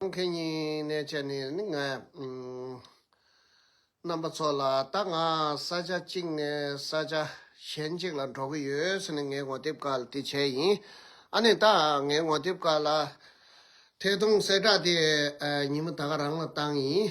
མཁན་ཉིད་གནས་བྱ་ནི་ནི་ངས། རྣམ་པ་ཚོ་ལ་ད་ང་ས་ཆ་གཅིག་ནས་ས་ཆ་གཞན་གཅིག་ལ་འགྲོ་གི་ཡོད་ཟེར་ནས་ངའི་ངོ་དེབ་དཀར་དེ་བྱས་ཡིན། ཨ་ནི་ད་ངའི་ངོ་དེབ་དཀར་ལ་ཐད་གཏོང་གསལ་བསྒྲགས་དེ་ཉིན་མོ་ད་ག་རང་ལ་བཏང་ཡིན།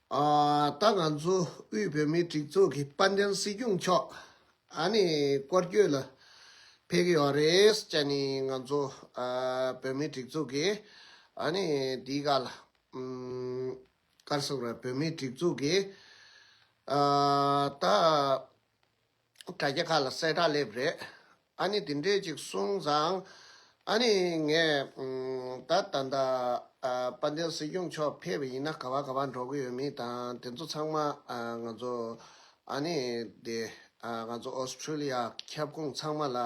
ད་ང་ཚོ་དབུས་བོད་མིའི་སྒྲིག་འཛུགས་ཀྱི་དཔལ་ལྡན་སྲིད་སྐྱོང་མཆོག་ཨ་ནི་སྐོར་སྐྱོད་ལ་ཕེབས་ཀྱི་ཡོད་རེད་སྤྱད་ནི་ང་ཚོ་བོད་མིའི་སྒྲིག་འཛུགས་ཀྱི་ཨ་ནི་དེའི་ག་ལ་སྐར་སོགས་ར་བོད་མིའི་སྒྲིག་འཛུགས་ཀྱི་ད། དྲ་རྒྱ་ཁག་ལ་གསལ་བསྒྲགས་སླེབས་རེད། ཨ་ནི་དེ་འདྲས་ཅིག་གསུངས་ཙང། ཨ་ནི་ངས། ད་ད་ལྟ། དཔལ་ལྡན་སྲིད་སྐྱོང་མཆོག་ཕེབས་པ་ཡིན་ན་ག་བ་ག་བ་འགྲོ་གི་ཡོད་མིན་དང་དེ་ཚོ་ཚང་མ། ང་ཚོ། ཨ་ནི་དེ། ང་ཚོ Australia ཁྱབ་ཁོངས་ཚང་མ་ལ།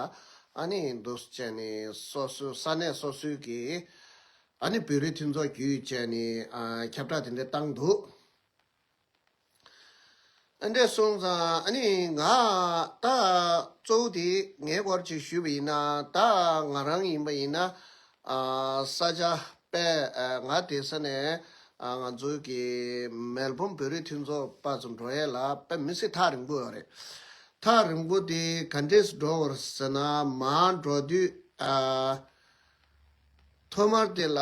ཨ་ནི་འདུག་བཅས་ནི་སོ་སོའི་ས་གནས་སོ་སོའི་གི། ཨ་ནི་བོད་རིགས་མཐུན་ཚོགས་བརྒྱུད་བཅས་ནི་ཁྱབ་བསྒྲགས་དེ་འདྲས་བཏང་འདུག། འདྲེ་སོང་ཙང་ནི་ང་ད་གཙོ་བོ་དེ་ངའི་སྐོར་ཅིག་ཞུས་པ་ཡིན་ན་ད་ང་རང་ཡིན་པ་ཡིན་ན་ས་ཆ་པས་ང་དེ་ས་ནས་ང་ཚོའི་གི་མེལ་བུམ་བོད་རིགས་མཐུན་ཚོགས་པ་ཚོ་འགྲོ་ཡས་ལ་པས་མི་སྲིད་ཐག་རིང་པོ་ཡོད་རེད་ཐག་རིང་པོ་དེ་ག་འདྲེས་འགྲོ་བར་ཟེར་ན་མ་འགྲོ་དུས་ཐོག་མར་དེ་ལ་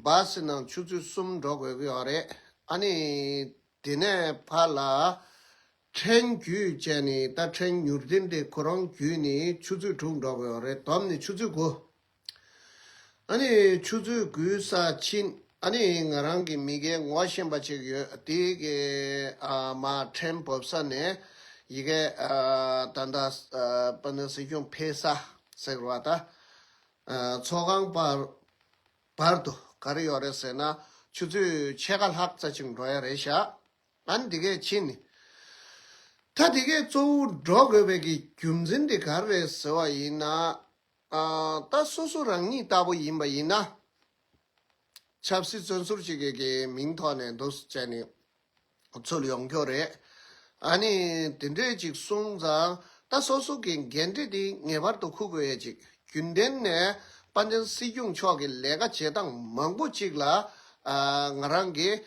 བསི་ནང་ཆུ་ཚོད་གསུམ་འགྲོ་དགོས་ཀྱི་ཡོད་རེད་ཨ་ནི། དེ་ནས་ཕ་ལ། ཕྲན་རྒྱུད་བྱས་ནས་ད་ཕྲན་མྱུར་བདེན་ཏེ་ཁོ་རང་རྒྱུད་ནས་ཆུ་ཚོད་དྲུག་འགྲོ་དགོས་རེད་དོམ་ནི་ཆུ་ཚོད་དགུ། ཨ་ནི་ཆུ་ཚོད་དགུའི་ས་ཕྱིན་ཨ་ནི་ང་རང་གི་མི་གའི་ངོ་ཤེས་པ་ཅིག་ཡོད་དེ་གའི་ཨ་མ་ཕྲན་བབས་ས་ནས་ཡི་གེ། ད་ཟེར་ཁྱོང་ཕེ་ས་ཟེར་བ་ད། ཚོགས་ཁང་བར་བར་དུ་ག་རེ་ཡོད་རེད་ཟེར་ན་ཆུ་ཚོད་ཕྱེད་ཀ་ལྷག་རྩ་ཅིག་འགྲོ་ཡ་རེད་ཤག་ཨན་དེ་གས་ཕྱིན་ནས། ད་དེ་གས་གཙོ་བོ་འགྲོ་དགོས་པའི་གི་རྒྱུ་མཚན་དེ་ག་རེ་རེད་ཟེར་བ་ཡིན་ན། ད་སོ་སོ་རང་ཉིད་ལྟ་བུ་ཡིན་པ་ཡིན་ན། ཆབ་སྲིད་བཙོན་ཟུར་ཅིག་གི་གི་མིང་ཐོག་ནས་འདུག་ཟེར་ནས། ཚུལ་ཡོང་རྒྱུ་རེད། ཨ་ནི་དེ་འདྲས་ཅིག་གསུངས་ཙང་ད་སོ་སོ་གི་འགན་འཁྲི་དེ་ངེས་པར་དུ་འཁུར་དགོས་ཡས་ཅིག་རྒྱུན་ལྡན་ནས་དཔའ་མཆན་སྲིད་སྐྱོང་མཆོག་གི་ལས་ཀ་བྱེད་སྟངས་མང་པོ་ཅིག་ལ་ང་རང་གིས་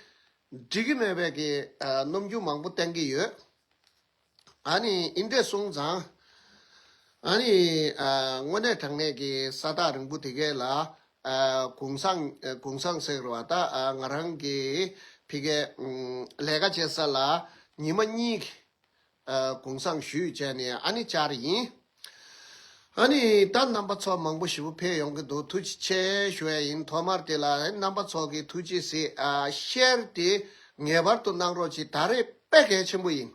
འགྲིག་གི་མེད་པའི་གི་གནོམ་རྒྱུ་མང་པོ་བསྟན་གི་ཡོད། ཨ་ནི་ཨིན་དྲས་གསུངས་ཙང། ཨ་ནི། དངོས་གནས་དྲང་གནས་ཀྱི་ས་རྟགས་རིང་པོ་དེ་གའི་ལ། གུང་སང། གུང་སང་ཟེར་བ་ད་ང་རང་གི། ཕི་གའི། ལས་ཀ་བྱེད་ས་ལ། ཉི་མ་གཉིས། གུང་སང་ཞུས་བྱས་ནས་ཨ་ནི་བཅར་ཡིན། ཨ་ནི་ད་རྣམ་པ་ཚོགས་མང་པོ་བཞི་པོ་འཕེལ་ཡོང་གི་འདུག་ཐུགས་རྗེ་ཆེ་ཞུ་བ་ཡིན་ཐོག་མར་དེ་ལ་རྣམ་པ་ཚོགས་ཀྱི་ཐུགས་རྗེ་ཟེ་བཤད་དེ་ངེས་པར་དུ་གནང་རོགས་གྱིས་ད་རེས་དཔེ་གལ་ཆེན་པོ་ཡིན་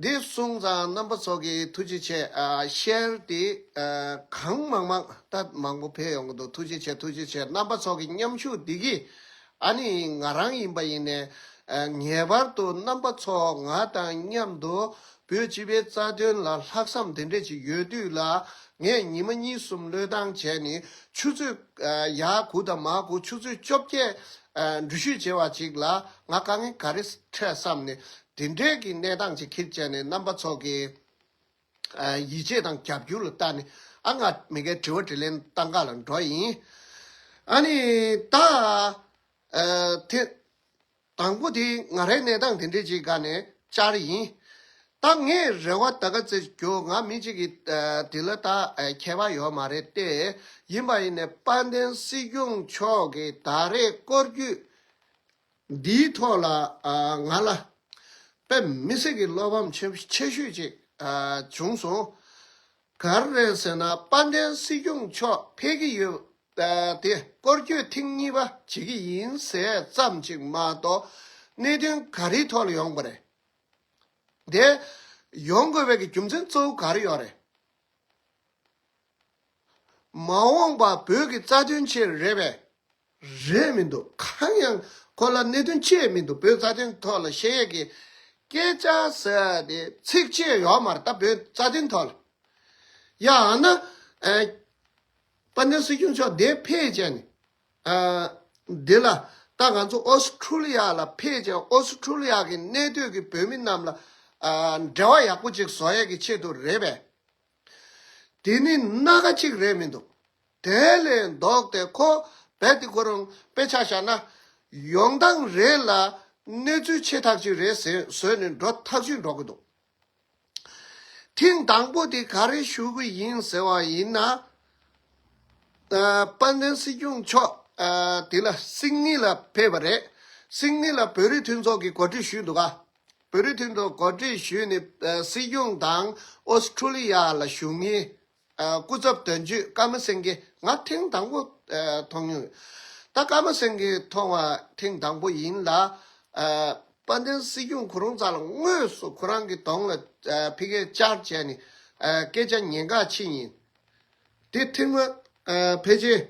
འདི་གསུངས་ཙང་རྣམ་པ་ཚོགས་ཀྱི་ཐུགས་རྗེ་ཆེ་བཤད་དེ་གང་མང་མང་ད་མང་པོ་འཕེལ་ཡོང་གི་འདུག་ཐུགས་རྗེ་ཆེ་ཐུགས་རྗེ་ཆེ་རྣམ་པ་ཚོགས་ཀྱི་མཉམ་ཞུགས་འདི་གིས་ཨ་ནི་ང་རང་ཡིན་པ་ཡིན་ནས། ངེས་པར་དུ་རྣམ་པ་ཚོ་ང་དང་མཉམ་དུ་བོད་སྤྱི་པའི་རྩ་དོན་ལ་ལྷག་བསམ་དེ་འདྲས་ཅིག་ཡོད་དུས་ལ་ངས་ཉི་མ་གཉིས་གསུམ་བློས་བཏང་བྱས་ནས་ཆུ་ཚོད་ཡ་དགུ་དང་མ་དགུ་ཆུ་ཚོད་བཅོ་བརྒྱད་འགྲུལ་བཞུད་བྱས་བ་ཅིག་ལ་ང་དཀའ་ངལ་ག་རེ་འཕྲད་བསམ་ནས་དེ་འདྲས་ཀྱི་གནས་སྟངས་ཅིག་ཁིར་བཅད་ནས་རྣམ་པ་ཚོ་གི། ཡིད་ཆེས་དང་རྒྱབ་སྐྱོར་ལ་བརྟགས་ནས་ཨ་ལྔ་མི་འགའི་དྲི་བ་དྲི་ལན་བཏང་ག་ལ་འགྲོ་ཡིན། ཨ་ནི། ད། ཐེངས། དང་པོ་དེ་ང་རའི་གནས་སྟངས་དེ་འདྲས་ཅིག་ག་ནས་བཅར་ཡིན། ད་ངས་རེ་བ་ད་ག་ཚེ་རྒྱོ་ང་མི་གཅིག་གི་དེ་ལ་ད་ཁྱད་པ་ཡོད་མ་རེད་ཏེ་ཡིན་པ་ཡིན་ནས་དཔལ་ལྡན་སྲིད་སྐྱོང་མཆོག་གི་ད་རེས་སྐོར་རྒྱུས་འདིའི་ཐོག་ལ་ང་ལ་དཔེ་མི་སྲིད་ཀྱི་བློ་ཕམ་ཆེ་ཤོས་ཅིག་བྱུང་སོང། གར་རེད་ཟེར་ན་དཔལ་ལྡན་སྲིད་སྐྱོང་མཆོག་ཕེབས་ཀྱི་ཡོད་དེ་སྐོར་སྐྱོད་ཐེངས་གཉིས་པ་བྱེད་ཀྱི་ཡིན་ཟེར་ཙམ་གཅིག་མ་གཏོགས་གནད་དོན་ག་རེའི་ཐོག་ལ་ཡོང་པ་རེད་དེ། ཡོང་དགོས་པའི་རྒྱུ་མཚན་གཙོ་བོ་ག་རེ་ཡོད་རེད། མ་འོངས་པ་བོད་ཀྱི་རྩ་དོན་ཆེད་རེད་པས། རེད་མི་འདུག་གང་ཡང་ཁོ་ལ་གནད་དོན་ཆེད་མི་འདུག་བོད་རྩ་དོན་ཐོག་ལ་ཤེས་ཡོད་ཀྱི་སྐད་ཆ་ཟེར་ཏེ་ཚིག་ཆེ་ཡོག་མར་ད་བོད་རྩ་དོན་ཐོག་ལ། ཡང་ན། དཔལ་ལྡན་སྲིད་སྐྱོང་མཆོག་དེ་ཕལ་ཆེར་ནི། འདི་ལ་ད་ང་ཚོ་ཨོ་སི་ཁྲུ་ལི་ཡ་ལ་ཕལ་ཆེར་ཨོ་སི་ཁྲུ་ལི་ཡ་གི་གནས་སྡོད་ཀྱི་བོད་མི་རྣམས་ལ་འབྲེལ་བ་ཡག་པོ་ཅིག་བཟོ་ཡས་ཀྱི་ཆེད་དུ་རེད་པས། དེ་ནི་སྣ་ཁ་གཅིག་རེད་མི་འདུག། དེ་ལས་ལྡོག་སྟེ་ཁོ་རྦད་དེ་ཁོ་རང་དཔེ་ཆ་བཞག་ན། ཡོང་སྟངས་རེ་ལ་གནས་ཚུལ་ཆེ་ཐག་ཅིག་རེ་བཟོས་ནས་འགྲོ་ཐག་ཆོད་འགྲོ་གི་འདུག། ཐེངས་དང་པོ་དེ་ག་རེ་ཞུ་གི་ཡིན་ཟེར་བ་ཡིན་ན། དཔལ་ལྡན་སྲིད་སྐྱོང་མཆོག་དེ་ལ་སིག་ནི་ལ་ཕེབས་པ་རེད། སིག་ནི་ལ་བོད་རིགས་མཐུན་ཚོགས་ཀྱི་གོ་སྒྲིག་ཞུས་འདུག་ག། བོད་རིགས་མཐུན་ཚོགས་གོ་སྒྲིག་ཞུས་ནས་སྲིད་སྐྱོང་དང་ཨོ་སི་ཁྲུ་ལི་ཡ་ལ་བཞུགས་མཁན་སྐུ་ཚབ་དོན་གཅོད་ཀརྨ་སེང་གེ་ང་ཐེངས་དང་པོ་མཐོང་མྱོང་ཡོད། ད་ཀརྨ་སེང་གེ་མཐོང་བ་ཐེངས་དང་པོ་ཡིན་ལ། དཔལ་ལྡན་སྲིད་སྐྱོང་གོ་རུང་ཚ་ལ་དངོས་སུ་ཁོ་རང་གི་གདོང་ལ་ཕི་གས་བཅར་བྱས་ནས་སྐད་ཆ་ཉན་ག་ཕྱིན་ཡིན། དེ་ཐེངས་མ་ཕེབས་རྗེས་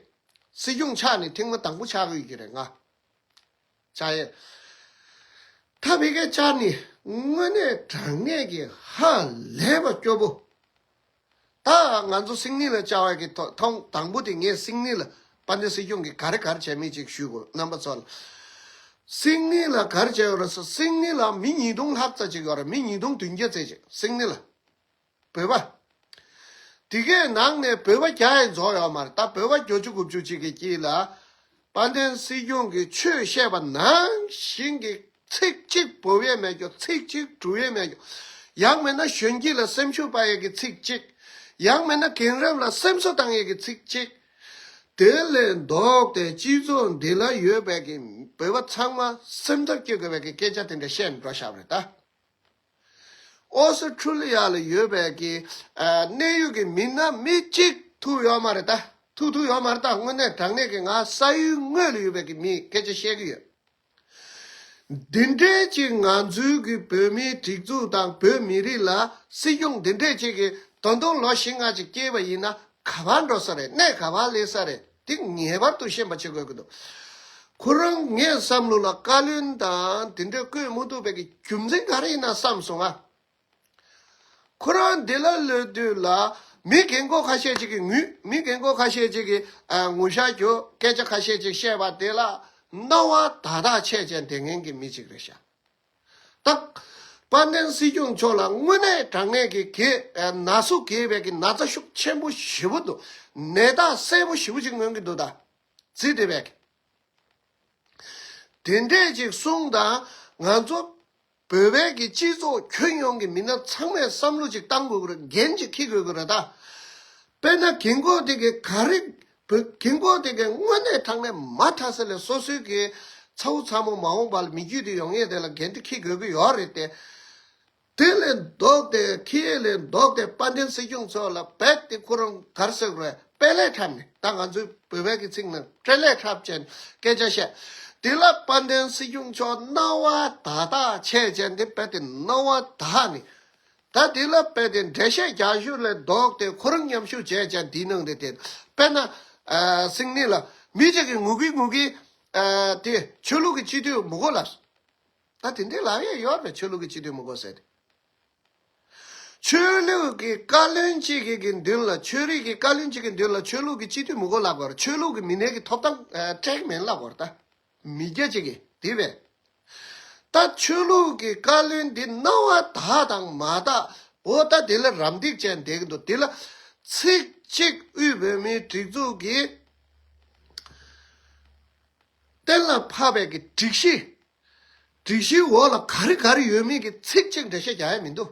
སྲིད་སྐྱོང་ཕྱག་ནས་ཐེངས་མ་དང་པོ་ཕྱག་ཡོད་ཀྱི་རེད་ང། བྱ་ཡི། ཐ་བི་ཀའི་ལྕགས་ནི་དངོས་གནས་དྲང་ངེས་ཀྱི་ཧ་ལས་པ་སྐྱོ་པོ། ད་ང་ཚོ་སིང་ནི་ལ་བཅར་བ་གི་ཐོག་དང་པོ་དེ་ངས་སིང་ནི་ལ་པ་ནི་སྲིད་སྐྱོང་གི་ག་རེ་གར་བྱས་མིན་ཅིག་ཞུས་དགོས་རྣམ་པ་ཚོ་ལ། སིང་ནི་ལ་གར་བྱས་ཡོད་རེད་སིང་ནི་ལ་མི་ཉིས་སྟོང་ལྷག་ཙ་ཅིག་ཡོད་རེད་མི་ཉིས་སྟོང་དུན་བརྒྱ་ཙེ་ཅིག་སིང་ནི་ལ། བོད་པ། དེ་གའི་ནང་ནས་བོད་པ་བརྒྱ་ཡས་རྫོགས་ཡོད་མ་རེད་ད་བོད་པ་བརྒྱོ་བཅུ་དགུ་བཅུ་ཅིག་གི་དཀྱིལ་ལ། དཔལ་ལྡན་སྲིད་སྐྱོང་གིས་ཆོས་བཤད་པ་ནང་བཞིན་གྱི་ཚིག་གཅིག་བོ་ཡས་མེད་རྒྱོ་ཚིག་གཅིག་གྲུ་ཡས་མེད་རྒྱོ། ཡང་མེད་ན་གཞོན་སྐྱིད་ལ་སེམས་ཤུགས་སྤར་ཡས་ཀྱི་ཚིག་གཅིག། ཡང་མེད་ན་གིན་རབས་ལ་སེམས་གསོ་བཏང་ཡས་ཀྱི་ཚིག་གཅིག། དེ་ལས་ལྡོག་ཏེ་སྤྱི་ཚོགས་འདི་ལ་ཡོད་པའི་གིན་བོད་པ་ཚང་མ་སེམས་འཚབ་སྐྱེ་དགོས་པའི་གི་སྐད་ཆ་དེ་འདྲ་བཤད་འགྲོ་ཞབས་རེད་ད། ཨོ་སི་ཁྲུ་ལི་ཡ་ལ་ཡོད་པའི་གི་གནད་ཡོད་ཀྱི་མི་སྣ་མི་གཅིག་ཐུག་ཡོད་མ་རེད་ད། ཐུག་ཐུག་ཡོད་མ་རེད་ད་དངོས་གནས་དྲང་གནས་ཀྱི་ང་ས་ཡུལ་དངོས་ལ་ཡོད་པའི་གི་མིས་སྐད་ཆ་བཤད་ཀྱི་ཡོད། འདི་འདྲའི་གི་ང་ཚོའི་གི་བོད་མིའི་སྒྲིག་འཛུགས་དང་བོད་མི་རིགས་ལ་སྲིད་སྐྱོང་འདི་འདྲས་གཅིག་གི་ད་དུང་ལོ་བཞི་ལྔ་གཅིག་སྐྱེལ་བ་ཡིན་ན་ག་བར་འགྲོ་ས་རེད་གནས་ག་བར་སླེབས་ས་རེད། དེ་ངེས་པར་དུ་ཤེས་པ་བྱེད་དགོས་ཀྱི་འདུག་ཁོ་རང་ངའི་བསམ་བློ་ལ་བཀའ་བློན་དང་དེ་འདྲ་བསྐོས་མི་འདུག་པའི་གི་རྒྱུ་མཚན་ག་རེ་ཡིན་ན་བསམ་སོང་ང། ཁོ་རང་འདི་ལ་ལོས་དུས་ལ་མི་རྒན་མགོ་ཁ་ཤས་ཅིག་གི་ངུས་མི་རྒན་མགོ་ཁ་ཤས་ཅིག་གི་ངུ་ཤ་རྒྱོ་སྐད་ཆ་ཁ་ཤས་ཅིག་བཤད་པ་དེ་ལ་སྣང་བ་དག་དག་ཆས་ཅན་དེ་ངན་གྱི་མི་ཅིག་རེད་ཤག་དག། དཔལ་ལྡན་སྲིད་སྐྱོང་མཆོག་ལ་དངོས་གནས་དྲང་ངེས་ཀྱི་གེ་ན་སུ་གེ་བད་ཀྱི་ན་ཚ་ཤུགས་ཆེན་པོ་བཞི་པོ་འདུག་ནད་རྟགས་གསལ་པོ་བཞི་པོ་ཅིག་མངོན་གྱི་འདུག་ད་ཙི་ཏི་བད་ཀྱི་དེ་འདྲས་ཅིག་གསུངས་ད་ང་ཚོ་བོད་བད་ཀྱི་སྤྱི་ཚོགས་ཁྱོན་ཡོངས་ཀྱི་མི་སྣ་ཚང་མས་བསམ་བློ་ཅིག་བཏང་དགོས་གི་ར་འགན་ཅིག་འཁྱི་དགོས་གི་ར་ད་དཔེ་ན་གིན་གོ་དེ་གི་ག་རིག་བོད་དགེ་འགོག་དེ་གའི་དངོས་གནས་དྲང་གནས་མ་མཐའ་ས་ལས་སོ་སོའི་གི་ཚ་བོ་ཚ་མོ་མ་འོངས་པ་ལ་མི་རྒྱུད་དེ་ཡོང་ངེས་དེ་ལ་འགན་དེ་ཁི་དགོས་གི་ཡོག་རེད་དེ། དེ་ལས་མདོག་དེ་ཁི་ཡེ་ལས་མདོག་དེ་དཔལ་ལྡན་སྲིད་སྐྱོང་ཚོ་ལ་བེད་དེ་ཁོ་རང་གར་སོད་རོད་དཔལ་ལས་འཁྲབ་ནས་ད་ང་ཚོའི་བོད་བལ་གི་ཚིག་ནང་སྤྲེལ་ལས་འཁྲབ་ཅན་སྐད་ཆ་བཤད་དེ་ལ་དཔལ་ལྡན་སྲིད་སྐྱོང་མཆོག་རྣ་བ་དག་དག་ཆས་ཅན་དེ་བེད་དེ་རྣ་བ་དག་ནས་ད་དེ་ལ་དཔེ་དེ་འགྲེལ་བཤད་རྒྱ་གཞུང་ལས་ལྡོག་སྟེ་ཁོ་རང་མཉམ་ཞུགས་བྱས་ཀྱང་འདིའི་ནང་དུ་དེ་དཔེར་ན། སིང་ནི་ལ། མི་ཅིག་གིས་ངུ་གིན་ངུ་གིན། དེ། ཆོས་ལུགས་ཀྱི་སྤྱི་འཐུས་མི་གོ་ལ། ད་དེ་འདྲའི་ལག་གཡས་གཡོར་བས་ཆོས་ལུགས་ཀྱི་སྤྱི་འཐུས་མི་གོ་ཟེར། ཆོས་ལུགས་ཀྱི་བཀའ་བློན་ཅིག་གི་མདུན་ལ་ཆོས་རིག་གི་བཀའ་བློན་ཅིག་གི་མདུན་ལ་ཆོས་ལུགས་ཀྱི་སྤྱི་འཐུས་མི་གོ་ལབ་གོ་ར་ཆོས་ལུགས་ཀྱི་མི་སྣའི་གི་ཐོབ་ཐང་སྤྲད་གི་མིན་ལབ་གོ་ར་ད། མི་རྒྱ་ཅིག་གིས་དེ་བས། ད་ཆོས་ལུགས་ཀྱི་བཀའ་བློན་འདི་རྣ་བ་དག་དང་མ་དག་འོ་ད་དེ་ལ་རམ་འདེགས་བྱས་འདེགས་གི་འདུག་དེ་ལ་ཚིག་གཅིག་དབུས་བོད་མིའི་སྒྲིག་འཛུགས་ཀྱི་གཏན་ལ་ཕབ་པའི་གི་སྒྲིག་གཞི་སྒྲིག་གཞིའི་འོག་ལ་ག་རེ་ག་རེ་ཡོད་མེད་ཀྱི་ཚིག་གཅིག་འགྲེལ་བཤད་རྒྱག་ཡ་མི་འདུག།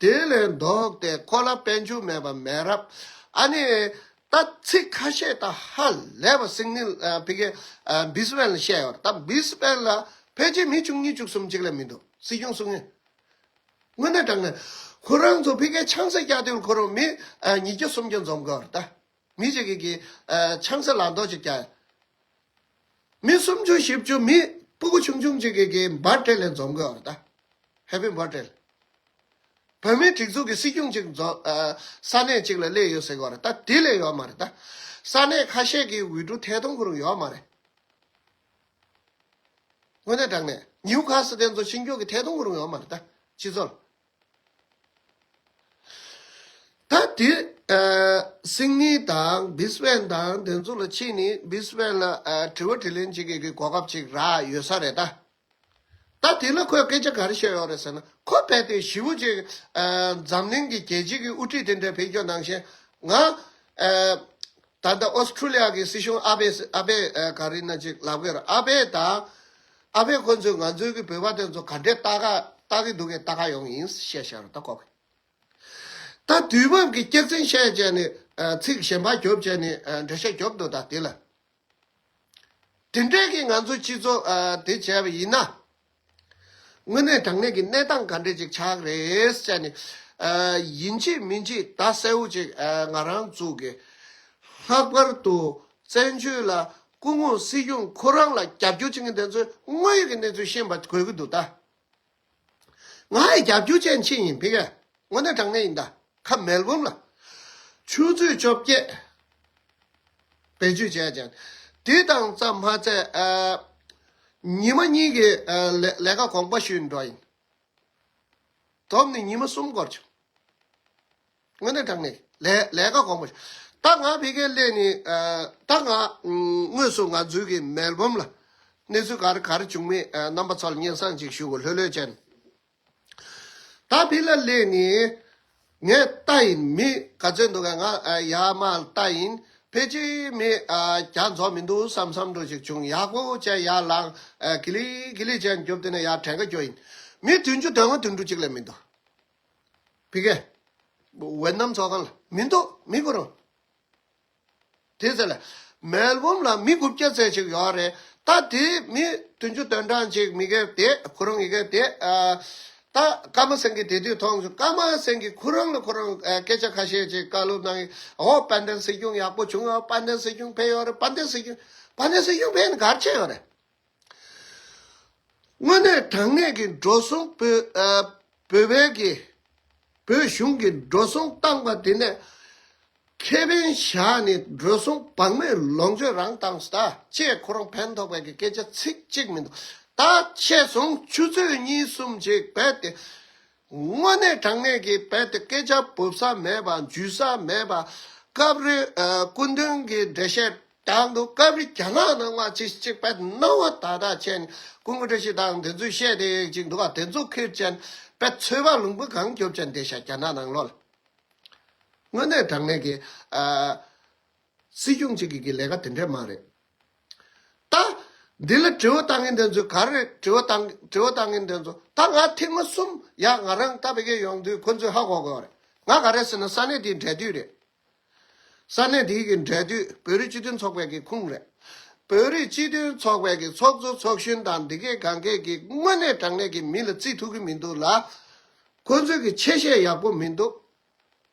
དེ་ལས་ལྡོག་སྟེ་ཁོ་ལ་དཔལ་འབྱོར་མེད་པ་མེད་རབས་ཨ་ནི་ད་ཚིག་ཁ་ཤས་དང་ཧ་ལས་པ་སིག་ནིལ་བྷི་གེ་སྦི་སི་བན་ལ་བཤད་ཡོད་རེད་ད་སྦི་སི་བན་ལ་ཕལ་ཆེར་མི་བཅུ་གཉིས་བཅུ་གསུམ་གཅིག་ལས་མི་འདུག་སྲིད་སྐྱོང་སུ་ངེས་དངོས་གནས་དྲང་ངེས་ཁོ་རང་ཚོ་བྷི་གེ་ཆང་ས་རྒྱག་དུས་ཁོ་རང་མི་ཉིས་བརྒྱ་སུམ་བརྒྱ་འཛོམས་དགོས་རེད་ད། མི་ཞིག་གིས་ཆང་ས་ལ་མདོག་ཅིག་བསྐྱལ། མི་སུམ་ཅུ་བཞི་བཅུ་མི་སྤུ་གུ་ཆུང་ཆུང་ཅིག་གིས་འབར་སྤྲེལ་ལས་འཛོམས་དགོས་བར་ད། Happy འབར་སྤྲེལ། བོད་མིའི་སྒྲིག་འཛུགས་ཀྱི་སྲིད་སྐྱོང་ཅིག་ས་གནས་ཅིག་ལ་སླེབས་ཡོད་ཟེར་བར་ད་དེ་ལས་ཡོད་མ་རེད་ད། ས་གནས་ཁ་ཤས་ཀྱི་འོས་བསྡུ་ཐད་གཏོང་ཁོ་རང་ཡོད་མ་རེད། དངོས་གནས་དྲང་གནས་ཉིའུ་ཁ་སི་ལྡན་ཚོ་ཕྱི་འགྱོགས་ཀྱི་ཐད་གཏོང་ཁོ་རང་ཡོད་མ་རེད་ད། སྤྱི་ཚོགས། ད་དུས་སིང་ནི་དང་བིས་བན་དང་འདི་ཚོ་ལ་ཕྱིས་ནས་བིས་བན་ལ་དྲི་བ་དྲི་ལན་བྱེད་དགོས་ཀྱི་གོ་སྐབས་ཅིག་རག་ཡོད་ས་རེད་ད། ད་དེ་ལ་ཁོས་སྐད་ཆ་ག་རེ་བཤད་ཡོད་རེད་ཟེར་ན་ཁོ་བལྟས་ཏེ་ཞི་བུ་ཅིག་འཛམ་གླིང་གི་རྒྱལ་སྤྱིའི་གི་དབུ་ཁྲིད་དེ་འདྲའི་བེད་སྐྱོ་གནང་ཞེན་ང། ད་ལྟ་ཨོས་ཁྲུ་ལི་ཡ་གི་སྲིད་གཞུང་ཨ་བེས་ཨ་བེས་ག་རེ་ན་ཅིག་ལབ་གི་རེད་ཨ་བེས་ད། ཨ་ཕས་ཁོ་ཚོས་ང་ཚོའི་གི་བོད་པ་དེ་ཚོ་ག་འདྲའི་སྟག་སྟག་གི་འདུག་གས་སྟག་ཁ་ཡོང་ཡིན་བཤད་བཤད་རོ་ད་ལྐོག་གི། ད་དུས་བབ་གི་སྐྱག་རྫིང་བཤད་བྱས་ནས་ཚིག་གཞན་པ་རྒྱོབ་བྱས་ནས་འདྲེ་ཤ་རྒྱོབ་འདུག་ད་དེ་ལ། དེ་འདྲས་གི་ང་ཚོ་སྤྱི་ཚོགས་དེ་བྱས་པ་ཡིན་ན། དངོས་གནས་དྲང་གནས་གི་གནས་སྟངས་ག་འདྲས་ཅིག་ཆགས་ཀི་རེད་བྱས་ནས། ཡིན་གཅིག་མིན་གཅིག་ད་གསལ་བོ་ཅིག་ང་རང་བཙུགས་གི། ལྷག་པར་དུ་བཙན་བྱོལ་ལ་སྐུ་ངོ་སྲིད་སྐྱོང་ཁོ་རང་ལ་རྒྱབ་སྐྱོར་བྱེད་མཁན་དེ་ཚོས་དངོས་ཡོད་ཀྱི་གནས་ཚུལ་ཤེས་པ་དགོས་ཀྱི་འདུག་ད། ང་ཡི་རྒྱབ་སྐྱོར་བྱེད་མཁན་ཆེན་ཡིན་ཕི་ག་ངོ་ནས་དྲང་གནས་ཡིན་ད་ཁ་མལ་བུམ་ལ། ཆུ་ཚོད་བཅོ་བརྒྱད། བེད་སྤྱོད་བྱས་ཀྱང། དེ་དང་རྩ་མ་ཚད། ཉི་མ་གཉིས་ཀྱི་ལས་ཀ་གོང་པ་ཞུས་འགྲོ་ཡིན། དོམ་ནི་ཉི་མ་གསུམ་འགོར་བྱུང། སྔོན་གནས་དྲངས་ནས་ལས་ཀ་གོང་མ་བྱ། རྟགས་ལྔ་འཕེལ་མཁན་སླད་ནི། རྟགས་ལྔ། དངོས་སུ་ང་འཛུལ་གྱི་མལ་བུམ་ལ། གནས་ཚུལ་ག་རེ་ག་རེ་བྱུང་མེད་རྣམ་པ་ཚོར་སྙན་བསངས་ཅིག་ཞུ་ལྷོད་ལྷོད་ཅན། རྟགས་འཕེལ་ལ་སླད་ནི། ངས་རྟ་ཡིན་མི་ག་ཚོད་འདུག་ག་ང་ཡ་མ་རྟ་ཡིན་ཕལ་ཆེ་མི་ག་རྫོགས་མི་འདུག་བསམ་བསམ་འགྲོ་ཞིག་བྱུང་ཡག་པོ་ཅན་ཡ་ལང་གི་ལི་གི་ལི་ཅན་རྒྱུབ་དེ་ནས་ཡ་དྲན་ག་རྒྱོ་ཡིན་མི་དུས་མཇུག་དོན་ང་དུས་འགྲོ་ཅིག་ལས་མི་འདུག། བི་ཀ། ཝེ་ནམ་ཚོགས་ཁང་ལ་མི་འདུག་མི་དགོས་རུང། དེ་ཟེར། མལ་བོམ་ལ་མི་དགུ་བརྒྱ་རྩེག་ཅིག་ཡོད་རེད་ད་དེ་མི་བདུན་ཅུ་དོན་གྲངས་ཅིག་མི་གེ་དེ་ཁོ་རང་གི་གེ་དེ། ད་ཀར་མ་སེང་གེ་དེ་དུས་ཐོག་མཆོག་ཀར་མ་སེང་གེ་ཁོ་རང་ལ་ཁོ་རང་སྐད་ཆ་ཁ་ཤས་ཅིག་བཀའ་སློབ་གནང་ཨོ་དཔལ་ལྡན་སྲིད་སྐྱོང་ཡག་པོ་བྱུང་ཨོ་དཔལ་ལྡན་སྲིད་སྐྱོང་ཕེབས་ཡོད་རེད་དཔལ་ལྡན་སྲིད་སྐྱོང་དཔལ་ལྡན་སྲིད་སྐྱོང་ཕེབས་ནས་གར་ཕྱིན་ཡོད་རེད། དངོས་གནས་དྲང་གནས་ཀྱི་འགྲོ་སོང་བོད་བལ་གྱི་བོད་གཞུང་གི་འགྲོ་སོང་བཏང་པ་དེ་ནས་ཁེ་ཕན་བཞག་ནས་འགྲོ་སོང་བག་མེད་ལོངས་སྤྱོད་རང་བཏང་ཟླ་བཅས་ཁོ་རང་ཕན་ཐོག་བལ་གྱི་སྐད་ཆ་ཚིག་གཅིག་མི་འདུག་ད་ཆས་སོང་ཆུ་ཚོད་གཉིས་གསུམ་ཅིག་བལ་དེ་དངོས་གནས་དྲང་གནས་ཀྱི་བལ་དུ་སྐད་ཆ་འབུབ་ས་མེད་པ་འཇུས་ས་མེད་པ། སྐབས་རེ་སྐུ་མདུན་གྱི་འགྲེལ་བཤད་རྟགས་འདུག་སྐབས་རེ་རྒྱ་ནག་ནང་བ་ཅི་ཞིག་བལ་སྣང་བ་དག་དག་བྱས་ནས་སྐུ་མགོན་བཀྲ་ཤིས་དང་དེ་ཚོས་བཤད་དེ་ཅིག་འདུག་ག་དེ་ཚོ་ཁེར་བཅད་ནས་བལ་ཚོས་བ་ལུང་པོ་གང་རྒྱོབ་བྱ་འདི་ཤ་རྒྱ་ནག་ནང་ལོག་ལ། དངོས་གནས་དྲང་གནས་ཀྱི། སྲིད་སྐྱོང་གཅིག་གིས་གི་ལས་ཀ་དེ་འདྲས་མ་རེད། ད། འདི་ལ་དྲི་བ་བཏང་མཁན་དེ་ཚོས་ག་རེ་རེད་དྲི་བ་དང་དྲི་བ་བཏང་མཁན་དེ་ཚོ་ད་ང་ཐེངས་མ་གསུམ་ཡག་ང་རང་ད་བེ་གའི་ཡོང་དུས་ཁོ་ཚོས་ཧ་གོ་གོ་རེད་ང་ག་རེ་ཟེར་ན་ས་གནས་དེའི་འབྲེལ་མཐུད་རེད། ས་གནས་དེའི་གི་འབྲེལ་མཐུད་བོད་རིགས་སྤྱི་མཐུན་ཚོགས་པའི་གི་ཁུངས་རེད། བོད་རིགས་སྤྱི་མཐུན་ཚོགས་པའི་གི་ཚོགས་གཙོ་ཚོགས་གཞོན་དང་འདི་སྐད་གང་སྐད་གི་དངོས་གནས་དྲང་གནས་གི་མི་ལ་བརྩི་ཐུབ་གི་མི་འདུག་ལ། ཁོ་ཚོའི་གི་ཆེ་བཤད་ཡག་པོ་མི་འདུག།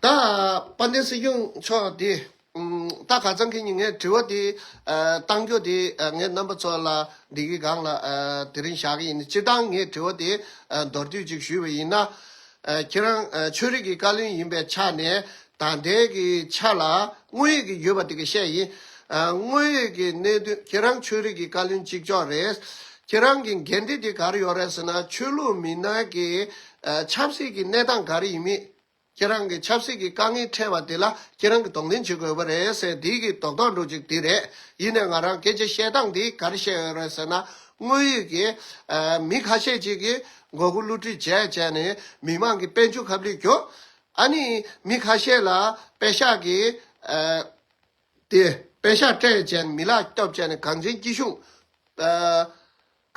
ད་པ་ནི་སྲིད་སྐྱོང་མཆོག་དེ་ད་ག་ཙང་གི་ནི་ངས་དྲི་བ་དེ་གཏང་རྒྱུ་དེ་ངས་རྣམ་པ་ཚོ་ལ་འདི་གི་སྒང་ལ་དེ་རིང་བཞག་གི་ཡིན་སྤྱིར་བཏང་ངས་དྲི་བ་དེ་མདོར་བསྡུས་ཅིག་ཞུས་པ་ཡིན་ན། ཁྱེད་རང་ཆོས་རིག་གི་བཀའ་བློན་ཡིན་པའི་ཆ་ནས་ད་ལྟའི་གི་ཆ་ལ་དངོས་ཡོད་གི་ཡོད་པ་དེ་གི་བཤད་ཡིན། དངོས་ཡོད་གི་གནད་དོན་ཁྱེད་རང་ཆོས་རིག་གི་བཀའ་བློན་གཅིག་ལྕོགས་རེད། ཁྱེད་རང་གི་འགན་འཁྲི་དེ་ག་རེ་ཡོད་རེད་ཟེར་ན་ཆོས་ལུགས་མི་སྣ་གི་ཆབ་སྲིད་ཀྱི་གནས་སྟངས་ག་རེ་ཡིན་མིན། ཁྱེད་རང་གིས་ཆབ་སྲིད་ཀྱི་དཀའ་ངལ་འཕྲད་པ་དེ་ལ་ཁྱེད་རང་གིས་དོགས་འདོན་བྱེད་དགོས་པ་རེད་ཟེར་དེའི་གི་དོགས་དོགས་འགྲོ་གཅིག་དེ་རེད། ཡིན་ནས་ང་རང་སྐད་ཆ་བཤད་སྟངས་འདི་ག་རེ་བཤད་ཡོད་རེད་ཟེར་ན། དངོས་ཡོད་ཀྱི། མི་ཁ་ཤས་ཅིག་གིས་མགོ་སྒུར་བསླུ་བྲིད་བྱས་བྱས་ནས་མི་མང་གི་དཔལ་འབྱོར་ཁ་བསླུས་གྱོ། ཨ་ནི། མི་ཁ་ཤས་ལ་དཔེ་ཤག་གི། དེ། དཔེ་ཤག་སྤྲད་བྱས་ནས་མི་ལག་སྐྱོབ་བྱས་ནས་གངས་ཅན་སྐྱིད་གཤོངས།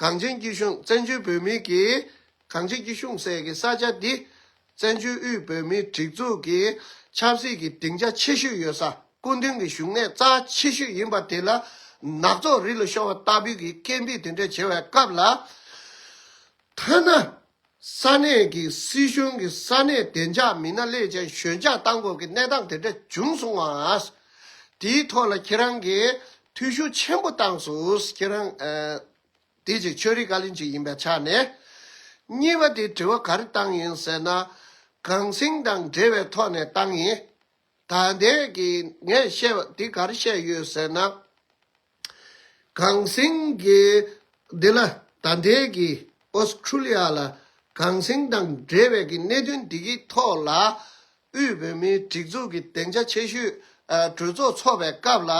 གངས་ཅན་སྐྱིད་གཤོངས་བཙན་བྱོལ་བོད་མིའི་གིས་གངས་ཅན་སྐྱིད་གཤོངས་སྲས་ཀྱི་ས་ཆ་འདི། བཙན་བྱོལ་དབུས་བོད་མིའི་སྒྲིག་འཛུགས་ཀྱི་ཆབ་སྲིད་ཀྱི་སྡིངས་ཆ་ཆེ་ཤོས་ཡོད་ས་སྐུ་མདུན་གྱི་བཞུགས་གནས་རྩ་ཆེ་ཤོས་ཡིན་པ་དེ་ལ་ནག་ཚོགས་རི་ལ་ཤོར་བ་ལྟ་བུའི་གི་སྐད་འབིགས་དེ་འདྲས་བྱེད་བའི་སྐབས་ལ་ཐ་ན། ས་གནས་ཀྱི་སྲིད་གཞུང་གིས་ས་གནས་བདེ་འཇགས་མི་སྣ་ལས་ཅན་ཞོད་འཇགས་བཏང་གོང་གི་གནས་སྟངས་དེ་འདྲ་བྱུང་སོང་བ། དེའི་ཐོག་ལ་ཁྱེད་རང་གིས་ཐུགས་ཤུགས་ཆེན་པོ་བཏང་སོང་ཁྱེད་རང། དེ་གཅིག་ཆོས་རིག་བཀའ་བློན་གཅིག་ཡིན་པའི་ཆ་ནས། གཉིས་པ་དེ་དྲི་བ་ག་རེ་བཏང་ཡིན་ཟེར་ན། གངས་སེང་དང་འབྲེལ་བའི་ཐོག་ནས་བཏང་ཡིན། ད་ལྟའི་གི་ངས་བཤད་པ་འདི་གར་བཤད་ཡོད་ཟེར་ན། གངས་སེང་གི་འདི་ལ་ད་ལྟའི་གི Australia ལ་གངས་སེང་དང་འབྲེལ་བའི་གི་གནད་དོན་འདི་གི་ཐོག་ལ་དབུས་བོད་མིའི་སྒྲིག་འཛུགས་གི་གདེང་ཆ་ཆེ་ཤོས་གྲོས་ཚོགས་འཚོགས་པའི་སྐབས་ལ་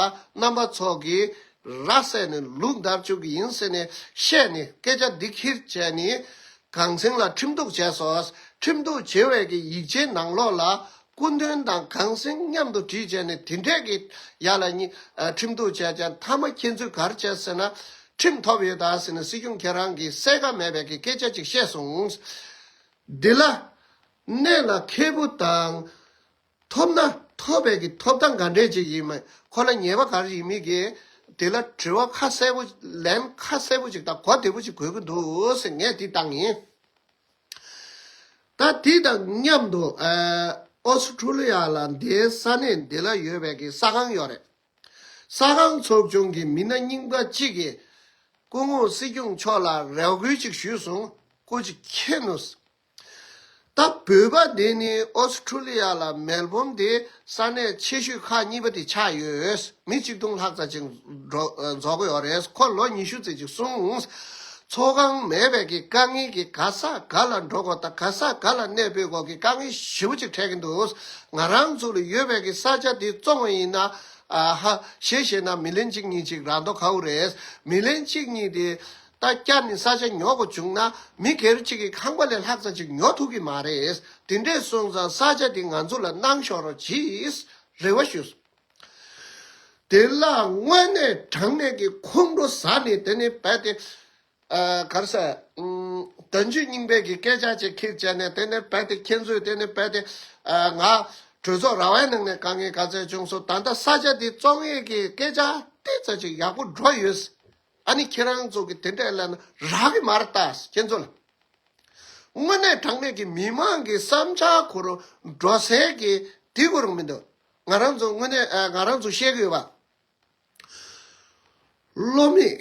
རྣམ་པ་ཚོགས་གི་ར་བསད་ནས་ལུག་འདར་བཅུག་གི་ཡིན་ཟེར་ནས་བཤད་ནས་སྐད་ཆ་འདི་ཁིར་བྱས་ནི་གངས་སེང་ལ་ཁྲིམས་གཏུགས་བྱས་སོ། ཁྲིམས་གཏུགས་བྱེད་བའི་གི་ཡིག་ཆའི་ནང་ལོགས་ལ་སྐུ་མདུན་དང་གངས་སེང་མཉམ་དུ་བྲིས་བྱས་ནས་དེ་འཕྲལ་གྱི་ཡར་ལ་གཉིས་ཁྲིམས་གཏུགས་བྱས་ཀྱང་མཐའ་མ་ཁྱེད་ཚོས་གར་བྱས་ཟེར་ན། ཁྲིམས་ཐོབ་ཡོད་དཱ་ཟེར་ན་སྲིད་སྐྱོང་ཁྱེད་རང་གིས་གསལ་ཁ་མེད་པའི་གི་སྐད་ཆ་ཅིག་བཤད་སོང། འདི་ལ། གནད་ལ་འཁེལ་བོ་དང། ཐོབ་ན་ཐོབ་པའི་གི་ཐོབ་ཐང་ག་འདྲས་ཅིག་ཡིན་མིན་ཁོ་ལ་ཉེས་པ་གར་ཡིན་མིན་གི་དེ་ལ་དྲི་བ་ཁ་གསལ་བོ་ལན་ཁ་གསལ་བོ་ཅིག་དང་གོ་བདེ་བོ་ཅིག་གོ་གི་འདུག་ངས་དེ་བཏང་ཡིན། ད་དེ་དང་མཉམ་དུ་ཨོ་སི་ཁྲུ་ལི་ཡ་ལ་འདའི་ས་གནས་འདི་ལ་ཡོད་པའི་གི་ས་ཁང་ཡོད་རེད། ས་ཁང་ཚོགས་ཆུང་གི་མི་སྣ་རྙིང་པ་གཅིག་གིས་སྐུ་ངོ་སྲིད་སྐྱོང་མཆོག་ལ་རེ་བསྐུལ་ཅིག་ཞུས་སོང་སྐུ་ཅིག་མཁྱེན་ནོ། ད་བོད་པ་འདི་ནི་ཨོ་སི་ཁྲུ་ལི་ཡ་ལ་མལ་བོམ་དེ་ས་གནས་ཆེ་ཤོས་ཁག་གཉིས་པ་དེ་ཆགས་ཡོད། མི་གཅིག་སྟོང་ལྷག་ཙམ་ཅིག་འཛོགས་གི་ཡོད་རེད། ཁོ་ལོ་ཉི་ཤུ་ཙམ་ཅིག་སོང། ཚོགས་ཁང་མེད་པས་ཀྱི་དཀའ་ངལ་གྱི་ག་ས་ག་ལ་འགྲོ་དགོས་དང་ག་ས་ག་ལ་གནས་སྤོས་དགོས་ཀྱི་དཀའ་ངལ་ཞི་བོ་ཅིག་འཕྲད་ཀྱི་འདུག་ང་རང་ཚུགས་ལ་ཡོད་པས་ཀྱི་ས་ཆ་དེ་བཙོང་བ་ཡིན་ན། ཧཧཧ་ད་བསྐྱར་ནི་ས་ཆ་ཉོ་དགོས་བྱུང་ན་མི་སྒེར་གཅིག་གི་ཁང་པ་ལས་ལྷག་ཙག་ཅིག་ཉོ་ཐུབ་ཀྱི་མ་རེད། དེ་འདྲས་སོང་ཙང་ས་ཆ་དེ་ང་ཚོ་ལ་གནང་ཤོག་རོགས་གྱིས་རེ་བ་ཞུ། དེ་ལ་དངོས་གནས་དྲང་གནས་ཀྱི་ཁོང་ཁྲོ་ཟ་ནི་དེ་ནི་རྦད་དེ། གར་ས། དོན་གཅོད་རྙིང་པས་ཀྱི་སྐད་ཆ་ཅིག་ཁིག་བྱས་ནས་དེ་ནི་རྦད་དེ་ཁྱེད་ཚོས་དེ་ནི་རྦད་དེ། ང། གྲོས་ཚོགས་ར་བའི་ནང་ནས་དཀའ་ངལ་ག་ཚད་བྱུང་སོང་ད་ལྟ་ས་ཆ་དེ་བཙོང་ཡས་ཀྱི་སྐད་ཆ་ཏིལ་ཙག་ཅིག་ཡག་པོ་སྒྲོག་ཡོད། ཨ་ནི་ཁྱེད་རང་ཚོ་གི་དེ་འདྲའི་ལན་རག་གི་མ་རེད་ད། ཁྱེད་ཚོ་ལ་དངོས་གནས་དྲང་གནས་ཀྱི་མི་མང་གི་བསམ་འཆར་གོ་རུ་འགྲོ་ཟེར་གི་དེ་གོ་རུ་མི་འདུག་ང་རང་ཚོ་དངོས་གནས་ང་རང་ཚོ་ཤེས་གི་ཡོད་པ། བློ་མིག་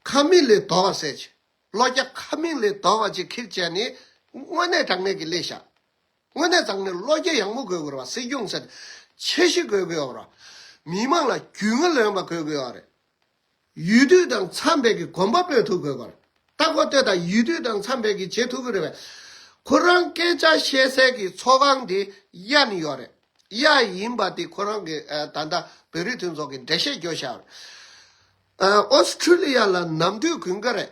ཁ་མིག་ལས་དོར་བ་ཟེར་གྱི་བློ་རྒྱ་ཁ་མིག་ལས་དོར་བ་ཅིག་ཁིག་བྱས་ནས་དངོས་གནས་དྲང་གནས་ཀྱི་ལས་བྱ། དངོས་གནས་ཚང་མས་བློ་རྒྱ་ཡངས་པོ་དགོས་དགོས་ར་སྲིད་སྐྱོང་ཚད་ཆེ་བཞི་དགོས་དགོས་ཡོ་ར་མི་མང་ལ་རྒྱུས་མངའ་ལོན་པ་དགོས་དགོས་ཡོ་རེད་ཡུལ་དུས་དང་འཚམས་པའི་གི་གོམ་པ་སྤོས་ཐུབ་དགོས་པར་ལྟ་གོ་ལྟོས་དང་ཡུལ་དུས་དང་འཚམས་པའི་གི་བྱེད་ཐུབ་དགོས་རེད་བས་ཁོ་རང་སྐད་ཆ་བཤད་སའི་གི་ཚོགས་ཁང་དེ་གཡའ་ནས་ཡོ་རེད་གཡའ་ཡིན་པ་དེ་ཁོ་རང་གི་ད་ལྟ་བོད་རིགས་མཐུན་ཚོགས་གི་འགྲེལ་བཤད་རྒྱོ་ཞར་ཨོ་སི་ཁྲུ་ལི་ཡ་ལ་ནམ་དུས་གུན་དགའ་རེད་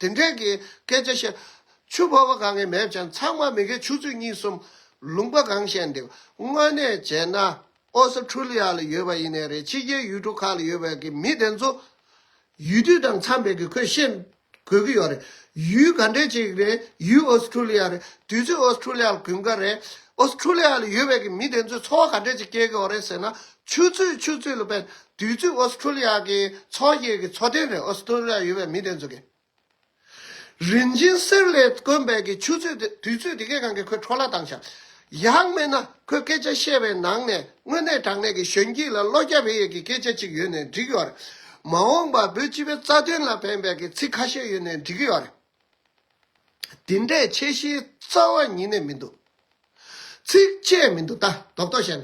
དེ་འདྲའི་གི་སྐད་ཆ་བཤད། ཆུ་ཕོར་བ་གང་གི་མེད་ཀྱང་ཚང་མ་མི་གའི་ཆུ་ཚོད་གཉིས་གསུམ་ལུང་པ་གང་བཤད་འདི་དངོས་གནས་བྱས་ན་ཨོ་སི་ཁྲུ་ལི་ཡ་ལ་ཡོད་པ་ཡིན་ནའི་རེད་ཕྱི་རྒྱལ་ཡུལ་གྲུ་ཁག་ལ་ཡོད་པའི་གི་མི་དེ་ཚོ་ཡུལ་དུས་དང་འཚམས་པའི་གི་ཁོས་བཤད་དགོས་གི་ཡོད་རེད་ཡུལ་ག་འདྲའི་ཅིག་རེད་ཡུལ་ཨོ་སི་ཁྲུ་ལི་ཡ་རེད་དུས་ཚོད་ཨོ་སི་ཁྲུ་ལི་ཡ་ལ་གུན་དཀའ་རེད་ཨོ་སི་ཁྲུ་ལི་ཡ་ལ་ཡོད་པའི་གི་མི་དེ་ཚོའི་འཚོ་བ་ག་འདྲའི་ཅིག་སྐྱེལ་གི་ཡོད་རེད་ཟེར་ན་ཆུ་ཚོད་ཆུ་ཚོད་ལ་བལྟ་དུས་ཚོད་ཨོ་སི་ཁྲུ་ལི་ཡ་གི་ཚོགས་ཞིག་གི་ཚོགས་ཐེངས་རེར་ཨོ་སི་ཁྲུ་ལི་ཡ་ཡོད་པའི་མི་དེ་ཚོ་གིས། རིན་ཆེན་གསེར་ལས་དཀོན་པའི་གི་ཆུ་ཚོད་དེ་དུས་ཚོད་དེ་གའི་ནང་གི་ཁོའི་འཕྲོ་བརླག་དང་བྱ། ཡང་མིན་ན་ཁོས་སྐད་ཆ་བཤད་པའི་ནང་ནས་དངོས་གནས་དྲང་གནས་ཀྱི་གཞོན་སྐྱེས་ལ་བློ་རྒྱ་བེ་ཡས་ཀྱི་སྐད་ཆ་ཅིག་ཡོད་ནས་འགྲིག་ཡོད་རེད། མ་འོངས་པར་བོད་སྤྱི་པའི་རྩ་དོན་ལ་ཕན་པའི་གི་ཚིག་ཁ་ཤས་ཡོད་ནས་འགྲིག་གི་ཡོད་རེད། འདི་འདྲའི་ཆེ་བཞིའི་རྩ་བ་ཉིད་ནས་མི་འདུག། ཚིགས་བཅད་མི་འདུག་ད་དོག་དོག་བྱས་ན།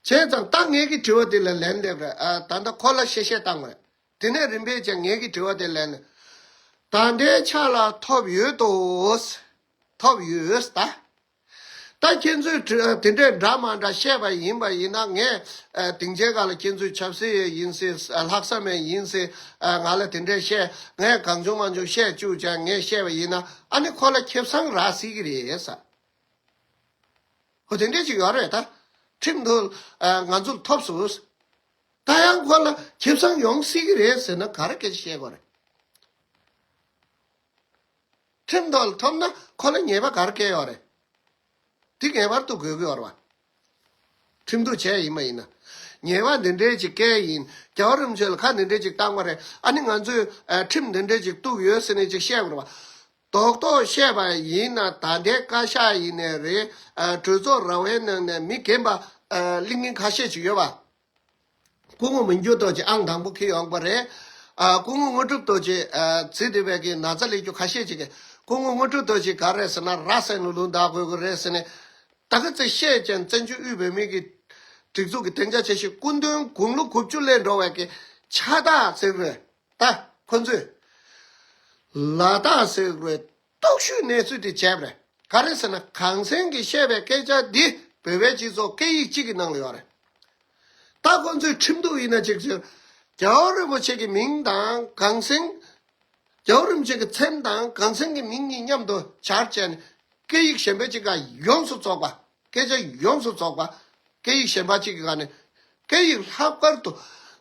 བྱས་ཙང་ད་ངེད་ཀྱི་དྲི་བ་དེ་ལ་ལན་འདེབས་རེ་ད་ལྟ་ཁོ་ལ་བཤད་བཤད་བཏང་བ་རེད། དེ་ནས་རིམ་པས་ཀྱང་ངེད་ཀྱི་དྲི་བ་དེ་ལན། ད་འདྲའི་ཆ་ལ་ཐོབ་ཡོད་དོ། ཐོབ་ཡོད་ད། ད་ཁྱེད་ཚོས་དེ་འདྲའི་འདྲ་མ་འདྲ་བཤད་པ་ཡིན་པ་ཡིན་ན་ངས་དེང་ཆེན་ག་ལ་ཁྱེད་ཚོའི་ཆབ་སྲིད་ཡས་ཡིན་སྲིད་ལྷག་བསམ་ཡས་ཡིན་སྲིད་ང་ལ་དེ་འདྲའི་བཤད་ངས་གང་བྱུང་མ་བྱུང་བཤད་བཅུག་ཅིང་ངས་བཤད་པ་ཡིན་ན་ཨ་ནི་ཁོ་ལ་ཁེབས་སང་རག་སྲིད་ཀྱི་རེད་ས་ཧོ་དེ་འདྲས་ཅིག་ཡོད་རེད་ད་ཁྲིམས་འདུ་ང་ཚོར་ཐོབ་སུ་ད་ཡང་ཁོ་ལ་ཁེབས་སང་ཡོང་སྲིད་ཀྱི་རེད་ཟེར་ན་ག་རེ་སྐད་ཆ་བཤད་དགོས་རེད། ཁྲིམས་དོན་ལ་ཐོབ་ན་ཁོ་ལ་ཉེས་པ་གར་བཀལ་ཡོད་རེད། དེ་ངེས་པར་དུ་གོ་གི་ཡོད་རེད། ཁྲིམས་གཏུག་བྱས་ཡིན་མ་ཡིན་ན། ཉེས་པ་འདི་འདྲའི་ཅིག་བཀལ་ཡིན། རྒྱ་གར་རིམ་བྱོན་ལ་ཁ་འདི་འདྲའི་ཅིག་བཏང་བ་རེད། ཨ་ནི་ང་ཚོས་ཁྲིམས་འདི་འདྲའི་ཅིག་གཏུག་ཡོད་ཟེར་ནས་ཅིག་བཤད་དགོས་རེད། རྡོག་རྡོག་བཤད་པ་ཡིན་ན་ད་ལྟའི་བཀའ་ཤག་ཡིན་ནས་རེད། གྲོས་ཚོགས་ར་བའི་ནང་ནས་མི་རྒན་པ་གླིང་སྙིང་ཁ་ཤས་ཅིག་ཡོད་པ། སྐུ་ངོ་མི་འགྱུར་རྡོ་རྗེ་ཨང་དང་པོ་ཁེལ་ཡོང་པ་རེད། སྐུ་ངོ་དངོས་གྲུབ་རྡོ་རྗེ། ཚེ་འདི་བས་ཀྱི་ན་ཚ་ལས་རྒྱུ་ཁ་ཤས་ཅིག། སྐུ་ངོ་དངོས་གྲུབ་རྡོ་རྗེ་ག་རེད་ཟེར་ན་ར་བསད་ནས་ལུང་བརྡ་གོ་གི་རེད་ཟེར་ནས། ད་གི་ཚེ་ཤེས་ཅན་བཙན་བྱོལ་དབུས་བོད་མིའི་གི་སྒྲིག་འཛུགས་ཀྱི་གདེང་ཆ་ཆེ་ཤོས་སྐུ་མདུན་དགུང་ལོ་དགུ་བཅུ་སླེབས་འགྲོ་བས་ཀྱི་ཕྱག་རྟགས་གཟིགས་རོལ་ད་ཁོ་ཚོས། ལ་དྭགས་གཟིགས་རོལ་རྟོག་ཞུའི་གནས་ཚུལ་དེ་བྱས་པ་རེད། ག་རེད་ཟེར་ན་གངས་སེང་གིས་བཤད་པའི་སྐད་ཆ་འདི་བོད་པའི་སྤྱི་ཚོགས་སྐད་ཡིག་གཅིག་གི་ནང་ལ་ཡོད་རེད། ད་ཁོང་ཚོས་ཁྲིམས་གཏུག་ཡིན་ན་ཅིག་བྱོས། རྒྱལ་བ་རིན་པོ་ཆེ་གི་མིང་དང་གངས་སེང། རྒྱལ་བ་རིན་པོ་ཆེ་གི་མཚན་དང་གངས་སེང་གི་མིང་གཉིས་མཉམ་དུ་བྱར་བྱས་ནས་སྐད་ཡིག་གཞན་པའི་གཅིག་ག་ཡོངས་སུ་རྫོགས་པ། སྐད་ཆ་ཡོངས་སུ་རྫོགས་པ། སྐད་ཡིག་གཞན་པ་གཅིག་གི་ག་ནས། སྐད་ཡིག་ལྷག་པར་དུ་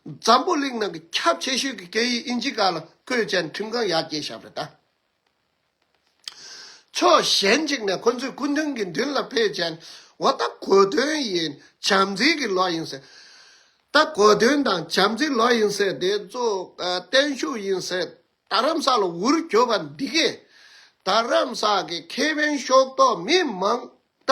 འཛམ་བུ་གླིང་ནང་གི་ཁྱབ་ཆེ་ཤོས་ཀྱི་སྐད་ཡིག་དབྱིན་ཇི་ག་ལ་བཀོད་བྱས་ནས་ཁྲིམས་ཁང་ཡར་སྐྱེལ་བྱས་པ་རེད་ད། ཕྱོགས་གཞན་གཅིག་ནས་ཁོ་ཚོས་སྐུ་མདུན་གྱི་མདུན་ལ་ཕེབས་མཁན་འོ་ད་གོ་དོན་ཡིན་བྱམས་བརྩེ་གི་ལོ་ཡིན་ཟེར། ད་གོ་དོན་དང་བྱམས་བརྩེ་ལོ་ཡིན་ཟེར་དེ་ཚོ་བརྟན་བཞུགས་ཡིན་ཟེར་རྡ་རམ་ས་ལ་འུར་གྱོ་བ་འདི་གས་རྡ་རམ་ས་གི་ཁེ་ཕན་ཤོག་ཏོག་མི་མང་ད་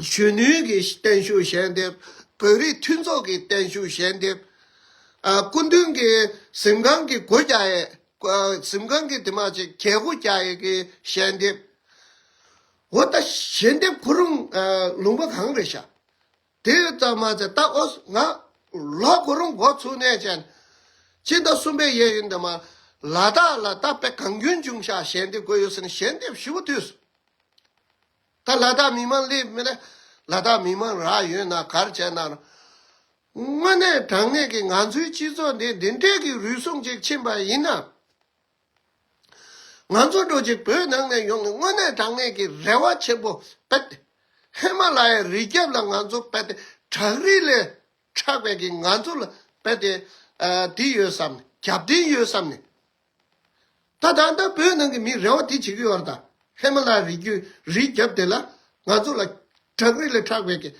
གཞོན་ནུའི་གི་བརྟན་བཞུགས་ཞལ་འདེབས། བོད་རིགས་མཐུན་ཚོགས་ཀྱི་བརྟན་བཞུགས་ཞལ་འདེབས། སྐུ་མདུན་གྱི་གཟིམ་ཁང་གི་སྒོ་རྒྱ་ཡས། གཟིམ་ཁང་གི་དེ་མ་ཅིག་གྱ་སྒོ་རྒྱ་ཡས་ཀྱི་ཞལ་འདེབས། འོ་ད་ཞལ་འདེབས་ཁོ་རུང་ལུང་པ་གང་རེད་ཤག། དེ་ཙམ་མ་ཚད་ད་ཨོ་ང། ལོག་ཁོ་རུང་སྒོ་ཚུགས་གནས་ཅན། སྤྱི་ཟླ་གསུམ་པའི་ཡས་ཡུན་དེ་མ། ལ་དྭགས་ལ་ད་དཔེ་གང་རྒྱུན་བྱུང་ཤག་ཞལ་འདེབས་དགོས་ཡོད་སེ་ན་ཞལ་འདེབས་ཞུ་བ་དུས་སུ། ད་ལ་དྭགས་མི་མང་སླེབས་མེད། ལ་དྭགས་མི་མང་རག་ཡོད་ན་གར་བྱས་ན་རུང། དངོས་གནས་དྲང་གནས་ཀྱི་ང་ཚོའི་སྤྱི་ཚོགས་འདི་འདི་འདྲས་ཀྱི་རུལ་སུངས་ཅིག་ཕྱིན་པ་ཡིན་ན། ང་ཚོ་འགྲོ་བྱེད་བོད་ནང་ནས་ཡོང་ནས་དངོས་གནས་དྲང་གནས་ཀྱི་རེ་བ་ཆེན་པོ་བེད་དེ། ཧི་མ་ལ་ཡའི་རི་རྒྱབ་ལ་ང་ཚོ་བེད་དེ་བྲག་རི་ལས་ཕྲག་བེད་ཀྱི་ང་ཚོ་ལ་བེད་དེ། དེ་ཡོད་བསམ་ནས་རྒྱབ་རྟེན་ཡོད་བསམ་ནས། ད་ད་ལྟ་བོད་ནང་གི་མིས་རེ་བ་དེ་བྱེད་ཀྱི་ཡོད་རེད་ད། ཧེ་མ་ལ་ཡའི་རི་རྒྱུད་རི་རྒྱབ་དེ་ལ་ང་ཚོ་ལ་བྲག་རི་ལས་ཕྲག་བད་ཀྱི་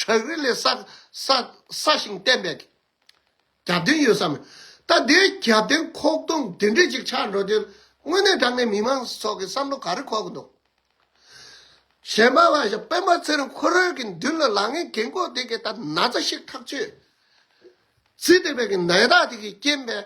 བྲག་རི་ལས་སྲ་ཞིང་བརྟན་བད་ཀྱི་རྒྱབ་རྟེན་ཡོད་ས་མེད། ད་དེའི་རྒྱབ་རྟེན་ཁོག་སྟོང་དེ་འདྲས་ཅིག་ཆགས་འགྲོ་དོན་དངོས་གནས་དྲང་གནས་མི་དམངས་ཚོགས་ཀྱི་བསམ་བློ་ག་རེ་ཁོག་གི་འདུག། གཞན་པ་བ་ཞིག་སྤེན་པ་ཚེ་རིང་ཁོ་རང་གི་མདུན་ལ་ལག་ངན་གེང་ཀོག་དེ་གའི་ད་ན་ཚ་ཞིག་ཐག་ཆོད། ཚིག་དེ་བད་ཀྱི་ནད་རྟགས་དེ་གའི་རྐྱེན་པས་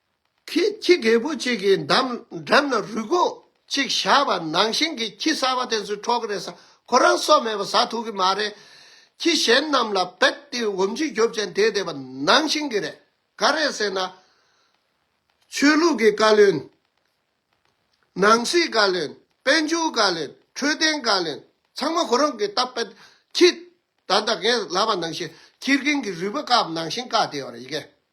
ཁྱི་རྒས་པོ་གཅིག་གི་འགྲམ་ན་རུས་སྒོ་གཅིག་བཞག་པ་ནང་བཞིན་གྱི་ཁྱི་གསར་བ་དེ་ཚོས་འཕྲོག་གི་རེད་ས་ཁོ་རང་སྲོག་མེད་པ་ཟ་ཐུབ་ཀྱི་མ་རེད། ཁྱི་གཞན་རྣམས་ལ་རྦད་དེ་འོམ་ཆུ་རྒྱོབ་ཅན་དེ་བསྡད་པ་ནང་བཞིན་གྱི་རེད། ག་རེད་ཟེར་ན། ཆོས་ལུགས་ཀྱི་བཀའ་བློན། ནང་སྲིད་བཀའ་བློན། དཔལ་འབྱོར་བཀའ་བློན། འཕྲོད་བསྟེན་བཀའ་བློན། ཚང་མ་ཁོ་རང་གི་རྟ་རྦད་ཁྱི། ད་ལྟ་ངས་ལབ་པ་ནང་བཞིན་ཁྱི་རྒན་གྱི་རུས་པ་བཀག་པ་ནང་བཞིན་བཀག་བསྡད་པ་རེད།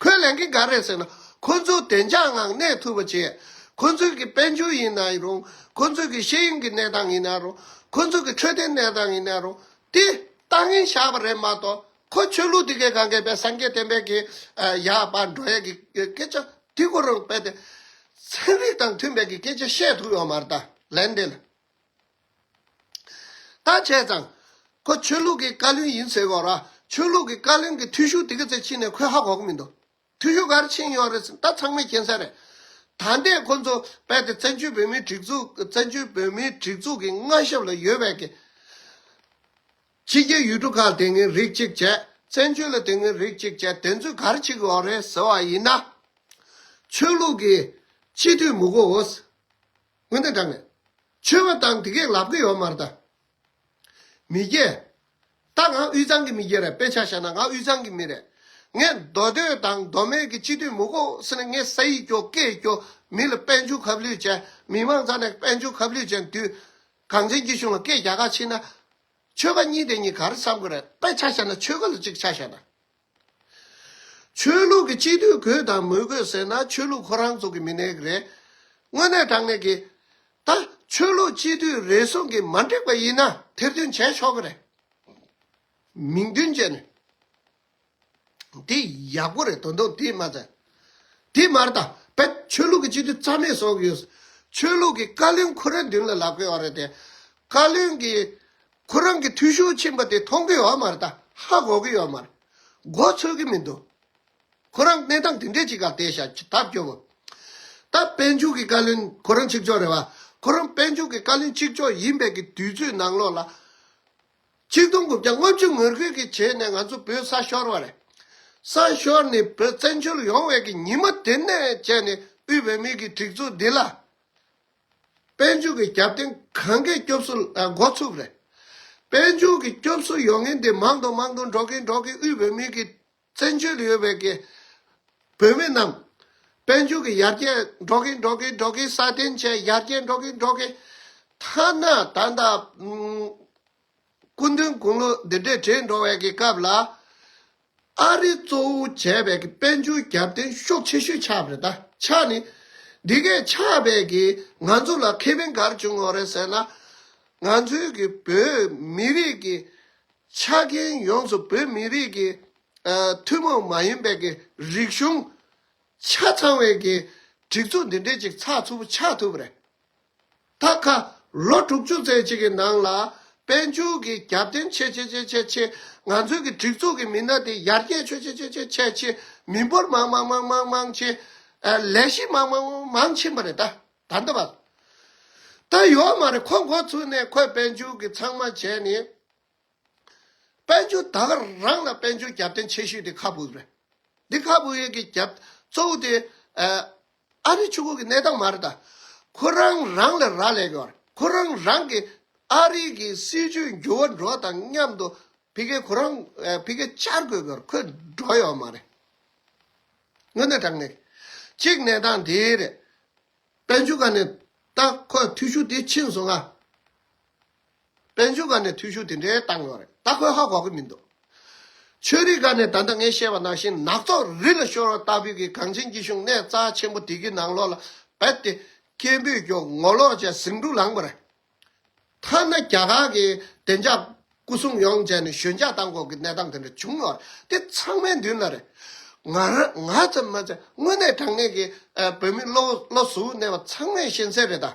ཁོས་ལན་གིན་ག་རེད་ཟེར་ན། ཁོ་ཚོའི་བདེ་འཇགས་ངང་གནས་ཐུབ་པ་བྱེད། ཁོ་ཚོའི་གི་དཔལ་འབྱོར་ཡིན་ན་རུང། ཁོ་ཚོའི་གི་ཤེས་ཡོན་གི་གནས་སྟངས་ཡིན་ན་རུང། ཁོ་ཚོའི་གི་འཕྲོད་བསྟེན་གནས་སྟངས་ཡིན་ན་རུང། དེ་ལྟ་ངན་བཞག་པ་རེད་མ་གཏོགས། ཁོ་ཆོས་ལུགས་དེ་གའི་གང་གའི་བས་སངས་རྒྱས་བསྟན་པའི་གི་ཡག་པ་འགྲོ་ཡས་གི་སྐད་ཆ་དེ་སྐོར་རང་བས་ཏེ། ཚན་རིག་དང་མཐུན་པའི་གི་སྐད་ཆ་བཤད་ཐུབ་ཡོད་མ་རེད་ད་ལན་འདི་ལ། ད་བྱས་ཙང། ཁོ་ཆོས་ལུགས་ཀྱི་བཀའ་བློན་ཡིན་ཟེར་གོ་ར། ཆོས་ལུགས་ཀྱི་བཀའ་བློན་གྱི་འཐུས་ཤོར་དེ་ག་ཚད་ཕྱིན་ནས་ཁོས་ཧ་གོ་གི་མི་འདུག། འཐུས་ཤོར་ག་རེ་ཕྱིན་ཡོད་རེད་ཟེར་ད་ཚང་མའི་མཁྱེན་གསལ་རེད། ད་ལྟའི་ཁོ་ཚོ་རྦད་དེ་བཙན་བྱོལ་བོད་མིའི་སྒྲིག་འཛུགས་བཙན་བྱོལ་བོད་མིའི་སྒྲིག་འཛུགས་ཀྱི་མངའ་ཞབས་ལ་ཡོད་བས་ཀྱི། ཕྱི་རྒྱལ་ཡུལ་གྲུ་ཁག་དེ་སྔའི་རིགས་གཅིག་བྱས། བཙན་བྱོལ་ལ་དེ་སྔའི་རིགས་གཅིག་བྱས་དེ་ཚོས་ག་རེ་བྱེད་ཀྱི་ཡོད་རེད་ཟེར་བ་ཡིན་ན། ཆོས་ལུགས་ཀྱི་སྤྱི་འཐུས་མི་གོ་འོས། སྔོན་དུ་འགྲངས། ཆོས་བ་དང་དེ་གའི་ལབ་གི་ཡོ་མར་དང། མི་རྒྱལ། ད་ང་དབུས་གཙང་གི་མི་རྒྱལ་རེད་དཔེ་ཆ་བཤད་ན་ང་དབུས་གཙང་གི་མི་རེད། ངས་མདོ་སྟོད་དང་མདོ་སྨད་ཀྱི་སྤྱི་འཐུས་མི་གོ་ས་ནི་ངས་ས་ཡིག་སྐྱོ་སྐད་སྐྱོ་མི་ལ་དཔལ་འབྱོར་ཁབ་ལུས་ཅན་མི་མང་ཚང་ནས་དཔལ་འབྱོར་ཁབ་ལུས་ཅན་དུས་གངས་ཅན་རྒྱུད་གཞུང་ལ་སྐད་རྒྱ་ཁ་ཕྱིན་ན། ཆོལ་ཁ་གཉིས་དེ་གཉིས་ག་རེ་བསམ་གི་རེད་དཔེ་ཆ་བཤད་ན་ཆོལ་ཁ་ལ་གཅིག་ཆ་བཤད་ན། ཆོས་ལུགས་ཀྱི་སྤྱི་འཐུས་གོས་དང་མོས་གོས་ཟེར་ན་ཆོས་ལུགས་ཁོ་རང་ཚོ་གི་མི་ནེག་རེད། དངོས་གནས་དྲང་གནས་གི། ད་ཆོས་ལུགས་སྤྱི་འཐུས་རེ་ཟུང་གི་མ་འགྲིག་པ་ཡིན་ན་ཐེར་འདོན་བྱས་ཆོག་གི་རེད། མིང་དོན་བཅས་ནས། དེ་ཡག་པོ་རེད་དོན་དུང་དེ་མ་ཟད། དེ་མར་ད་བལ་ཆོས་ལུགས་ཀྱི་སྤྱི་འཐུས་རྩ་མེད་ཟོག་ཡོད། ཆོས་ལུགས་ཀྱི་བཀའ་བློན་ཁོ་རང་མདུན་ལ་ལག་བཀོད་བ་རེད་དེ། བཀའ་བློན་གྱི་ཁོ་རང་གི་འཐུས་ཤོར་ཕྱིན་པ་དེ་མཐོང་གི་ཡོད་མ་རེད་ད་ཧ་གོ་གི་ཡོད་མ་རེད། མགོ་ཚོས་གི་མི་འདུག་ཁོ་རང་གནས་སྟངས་དེ་འདྲས་ཅིག་ག་དེ་ཤ་ད་སྐྱོ་བོ། ད་དཔལ་འབྱོར་གི་བཀའ་བློན་ཁོ་རང་གཅིག་ལྕོགས་རེད་བ། ཁོ་རང་དཔལ་འབྱོར་གི་བཀའ་བློན་གཅིག་ལྕོགས་ཡིན་པའི་གི་དུས་ཚོད་ནང་ལོག་ལ། གཅིག་སྟོང་དགུ་བརྒྱ་ལྔ་བཅུ་ངོས་རྒོལ་གི་བྱས་ནས་ང་ཚོ་བོད་ས་ཤོར་བ་རེད། ས་ཤོར་ནས་བོད་བཙན་བྱོལ་ཡོང་བའི་གི་ཉིན་མ་དེ་ནས་བྱས་ནས་དབུས་བོད་མིའི་གི་སྒྲིག་འཛུགས་འདི་ལ། དཔལ་འབྱོར་གྱི་རྒྱབ་རྟེན་གང་གཱའི་སྐྱོབ་གསོ་ལ་འགོ་ཚུགས་རེད། དཔལ་འབྱོར་གྱི་སྐྱོབ་གསོ་ཡོང་མཁན་དེ་མང་དང་མང་དུ་འགྲོ་གིན་འགྲོ་གིན་དབུས་བོད་མིའི་གི་བཙན་བྱོལ་ཡོད་པའི་གི་བོད་མི་རྣམས་དཔལ་འབྱོར་གྱི་ཡར་རྒྱས་འགྲོ་གིན་འགྲོ་གིན་འགྲོ་གིན་སྲ་བརྟན་བཅས་ཡར་རྒྱས་འགྲོ་གིན་འགྲོ་གིན་ཐ་ན་ད་ལྟ་སྐུ་མདུན་དགུང་ལོ་འདི་འདྲའི་གྲས་འགྲོ་བའི་སྐབས་ལ། ཨ་རི་གཙོ་བོ་བྱས་པའི་དཔལ་འབྱོར་རྒྱབ་རྟེན་ཤོག་ཆེ་ཤོས་ཆགས་པ་རེད་ད། ཆགས་ནི། འདི་སྐད་ཆགས་པས་ང་ཚོ་ལ་ཁེ་ཕན་གར་བྱུང་བ་རེད་ཟེར་ན། ང་ཚོའི་གི་བོད་མི་རིགས་ཀྱི་ཆ་རྐྱེན་ཡོངས་སུ་བོད་མི་རིགས་ཀྱི་ཐུན་མོང་མ་ཡིན་པའི་གི་རིག་གཞུང་ཆ་ཚང་བའི་གི་སྒྲིག་འཛུགས་འདི་འདྲའི་ཅིག་ཚགས་ཚུད་པོ་ཆགས་ཐུབ་པ་རེད། ད་ཁ། ལོ་དྲུག་ཅུ་ཟེར་གཅིག་གི་ནང་ལ་དཔལ་འབྱོར་གྱི་རྒྱབ་རྟེན་ཆེ་ཆེ་ཆེ་ཆེ་ཆེ། ང་ཚོའི་གི་སྒྲིག་འཛུགས་ཀྱི་མི་སྣ་དེ་ཡར་རྒྱས་ཆོད་ཆེ་ཆེ་ཆེ་ཆེ་ཆེ། མི་འབོར་མང་མང་མང་མང་མང་ཆེ། ལས་གཞི་མང་མང་མང་མང་ཕྱིན་པ་རེད་ད་ད་འདི་བ། ད་ཡོད་མ་རེད་ཁོ་འགོ་ཚུགས་ནས་ཁོས་དཔལ་འབྱོར་གྱི་ཚང་མ་བྱས་ནས། དཔལ་འབྱོར་དག་རང་ལ་དཔལ་འབྱོར་རྒྱབ་རྟེན་ཆེ་ཤོས་དེ་ཁ་བུའུ་རེད། འདི་ཁ་བུའུ་ཡེ་གི་རྒྱབ་གཙོ་བོ་དེ་ཨ་རི་ཆུ་ཁུག་གི་གནས་སྟངས་མ་རེད་ད། ཁོ་རང་རང་ལ་རག་ལས་གི། ཁོ་རང་རང་གིས་ཨ་རི་གི་སྲིད་ཇུས་འགྱུར་བ་འགྲོ་བ་དང་མཉམ་དུ་བྷི་ཁེ་ཁོ་རང་བྷི་ཁེ་བཅར་དགོས་གི་རེད་ཁོས་འགྲོ་ཡོད་མ་རེད། དངོས་གནས་དྲང་གནས་གཅིག་གནས་སྟངས་དེ་རེད། དཔལ་འབྱོར་ག་ནས་ད་ཁོས་མཐུས་ཤུགས་དེ་ཕྱིན་སོང་ང། དཔལ་འབྱོར་སྒར་ནས་འཐུས་ཤོར་དེ་འདྲའི་བཏང་ཡོད་རེད་ད་ཁོས་ཧ་གོ་གི་མི་འདུག་ཆོས་རིག་སྒར་ནས་ད་ལྟ་ངས་བཤད་པ་ནང་བཞིན་ནག་ཚོགས་རི་ལ་ཤོར་བ་ལྟ་བུའི་གི་གངས་ཅན་གྱི་གཞུང་གནས་རྩ་ཆེན་པོ་དེ་གི་ནང་ལོག་ལ་བད་དེ་སྐད་འབོད་སྐྱོག་ངོ་ལོག་ཅེས་ཟིང་འཁྲུག་ལངས་པ་རེད་ཐ་ན་རྒྱ་གར་གི་བདེ་འཇགས་སྐུ་སྲུང་ཡོང་བྱས་ནས་ཞོད་འཇགས་བཏང་དགོས་གི་གནས་སྟངས་དེ་འདྲ་བྱུང་ཡོད་རེད་དེ་ཚང་མའི་མདུན་ལ་རེད་ང་རང་ང་ཙམ་མ་ཚད་དངོས་གནས་དྲང་གནས་གི་བོད་མི་བློ་བཟོ་བོ་གནས་པ་ཚང་མས་ཤེས་གསལ་རེད་ད།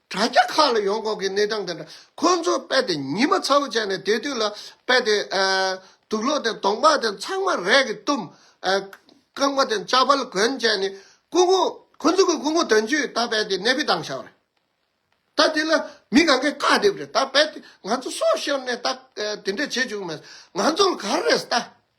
དྲ་རྒྱ་ཁག་ལ་ཡོང་འགོག་གི་གནས་སྟངས་དེ་འདྲ་ཁོ་ཚོས་དཔེ་དེ་ཉི་མ་ཚ་བོ་བྱས་ནས་དེ་དུས་ལ་དཔེ་དེ། དུག་ལོག་དེ་དོང་པ་དེ་ཚང་མ་རས་ཀྱིས་བཏུམ། རྐང་པ་དེ་ལྕགས་པར་གོན་བྱས་ནས་སྐུ་ངོ། ཁོ་ཚོ་གི་སྐུ་ངོ་དོན་གཅོད་ད་དཔེ་དེ་གནད་ཕིགས་བཏང་ཤག་རེད། ད་དེ་ལ་མི་གང་གས་བཀག་སྡེབ་རེད་ད་དཔེ་དེ་ང་ཚོ་སོག་ཤོར་ནས་ད་དེ་འདྲ་བྱེད་བཅུག་མེད་ང་ཚོ་ལ་ག་རེ་རེད་ད།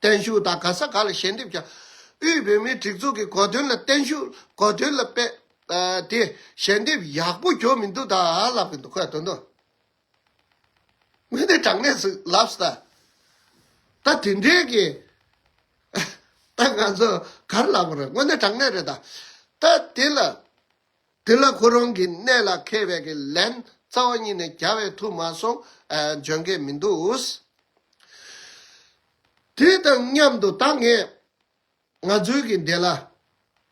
བརྟན་བཞུགས་དང་ག་ས་ག་ལ་ཞལ་འདེབས་ཀྱང། དབུས་བོད་མིའི་སྒྲིག་འཛུགས་ཀྱི་གོ་དོན་ལ་བརྟན་བཞུགས་གོ་དོན་ལ་དཔེ། དེ་ཞལ་འདེབས་ཡག་པོ་གྱོན་མི་འདུག་ད་ལབ་གི་འདུག་ཁོས་དོན་དུ། ངོས་ནས་དྲང་གནས་སུ་ལབས་ཟེར། ད་དེ་འདྲའི་གི། ད་ང་ཚོ་གར་ལབ་རེད་དངོས་གནས་དྲང་གནས་རེད་ད། ད་དེ་ལ། དེ་ལ་ཁོ་རང་གི་གནད་ལ་ཁེལ་བས་ཀྱི་ལན་རྩ་བ་ཉིད་ནས་བརྒྱ་བས་ཐུག་མ་སོང་འཇོན་གྱི་མི་འདུག། དེ་དང་མཉམ་དུ་ད་ངས་ང་ཚོའི་གི་འདི་ལ་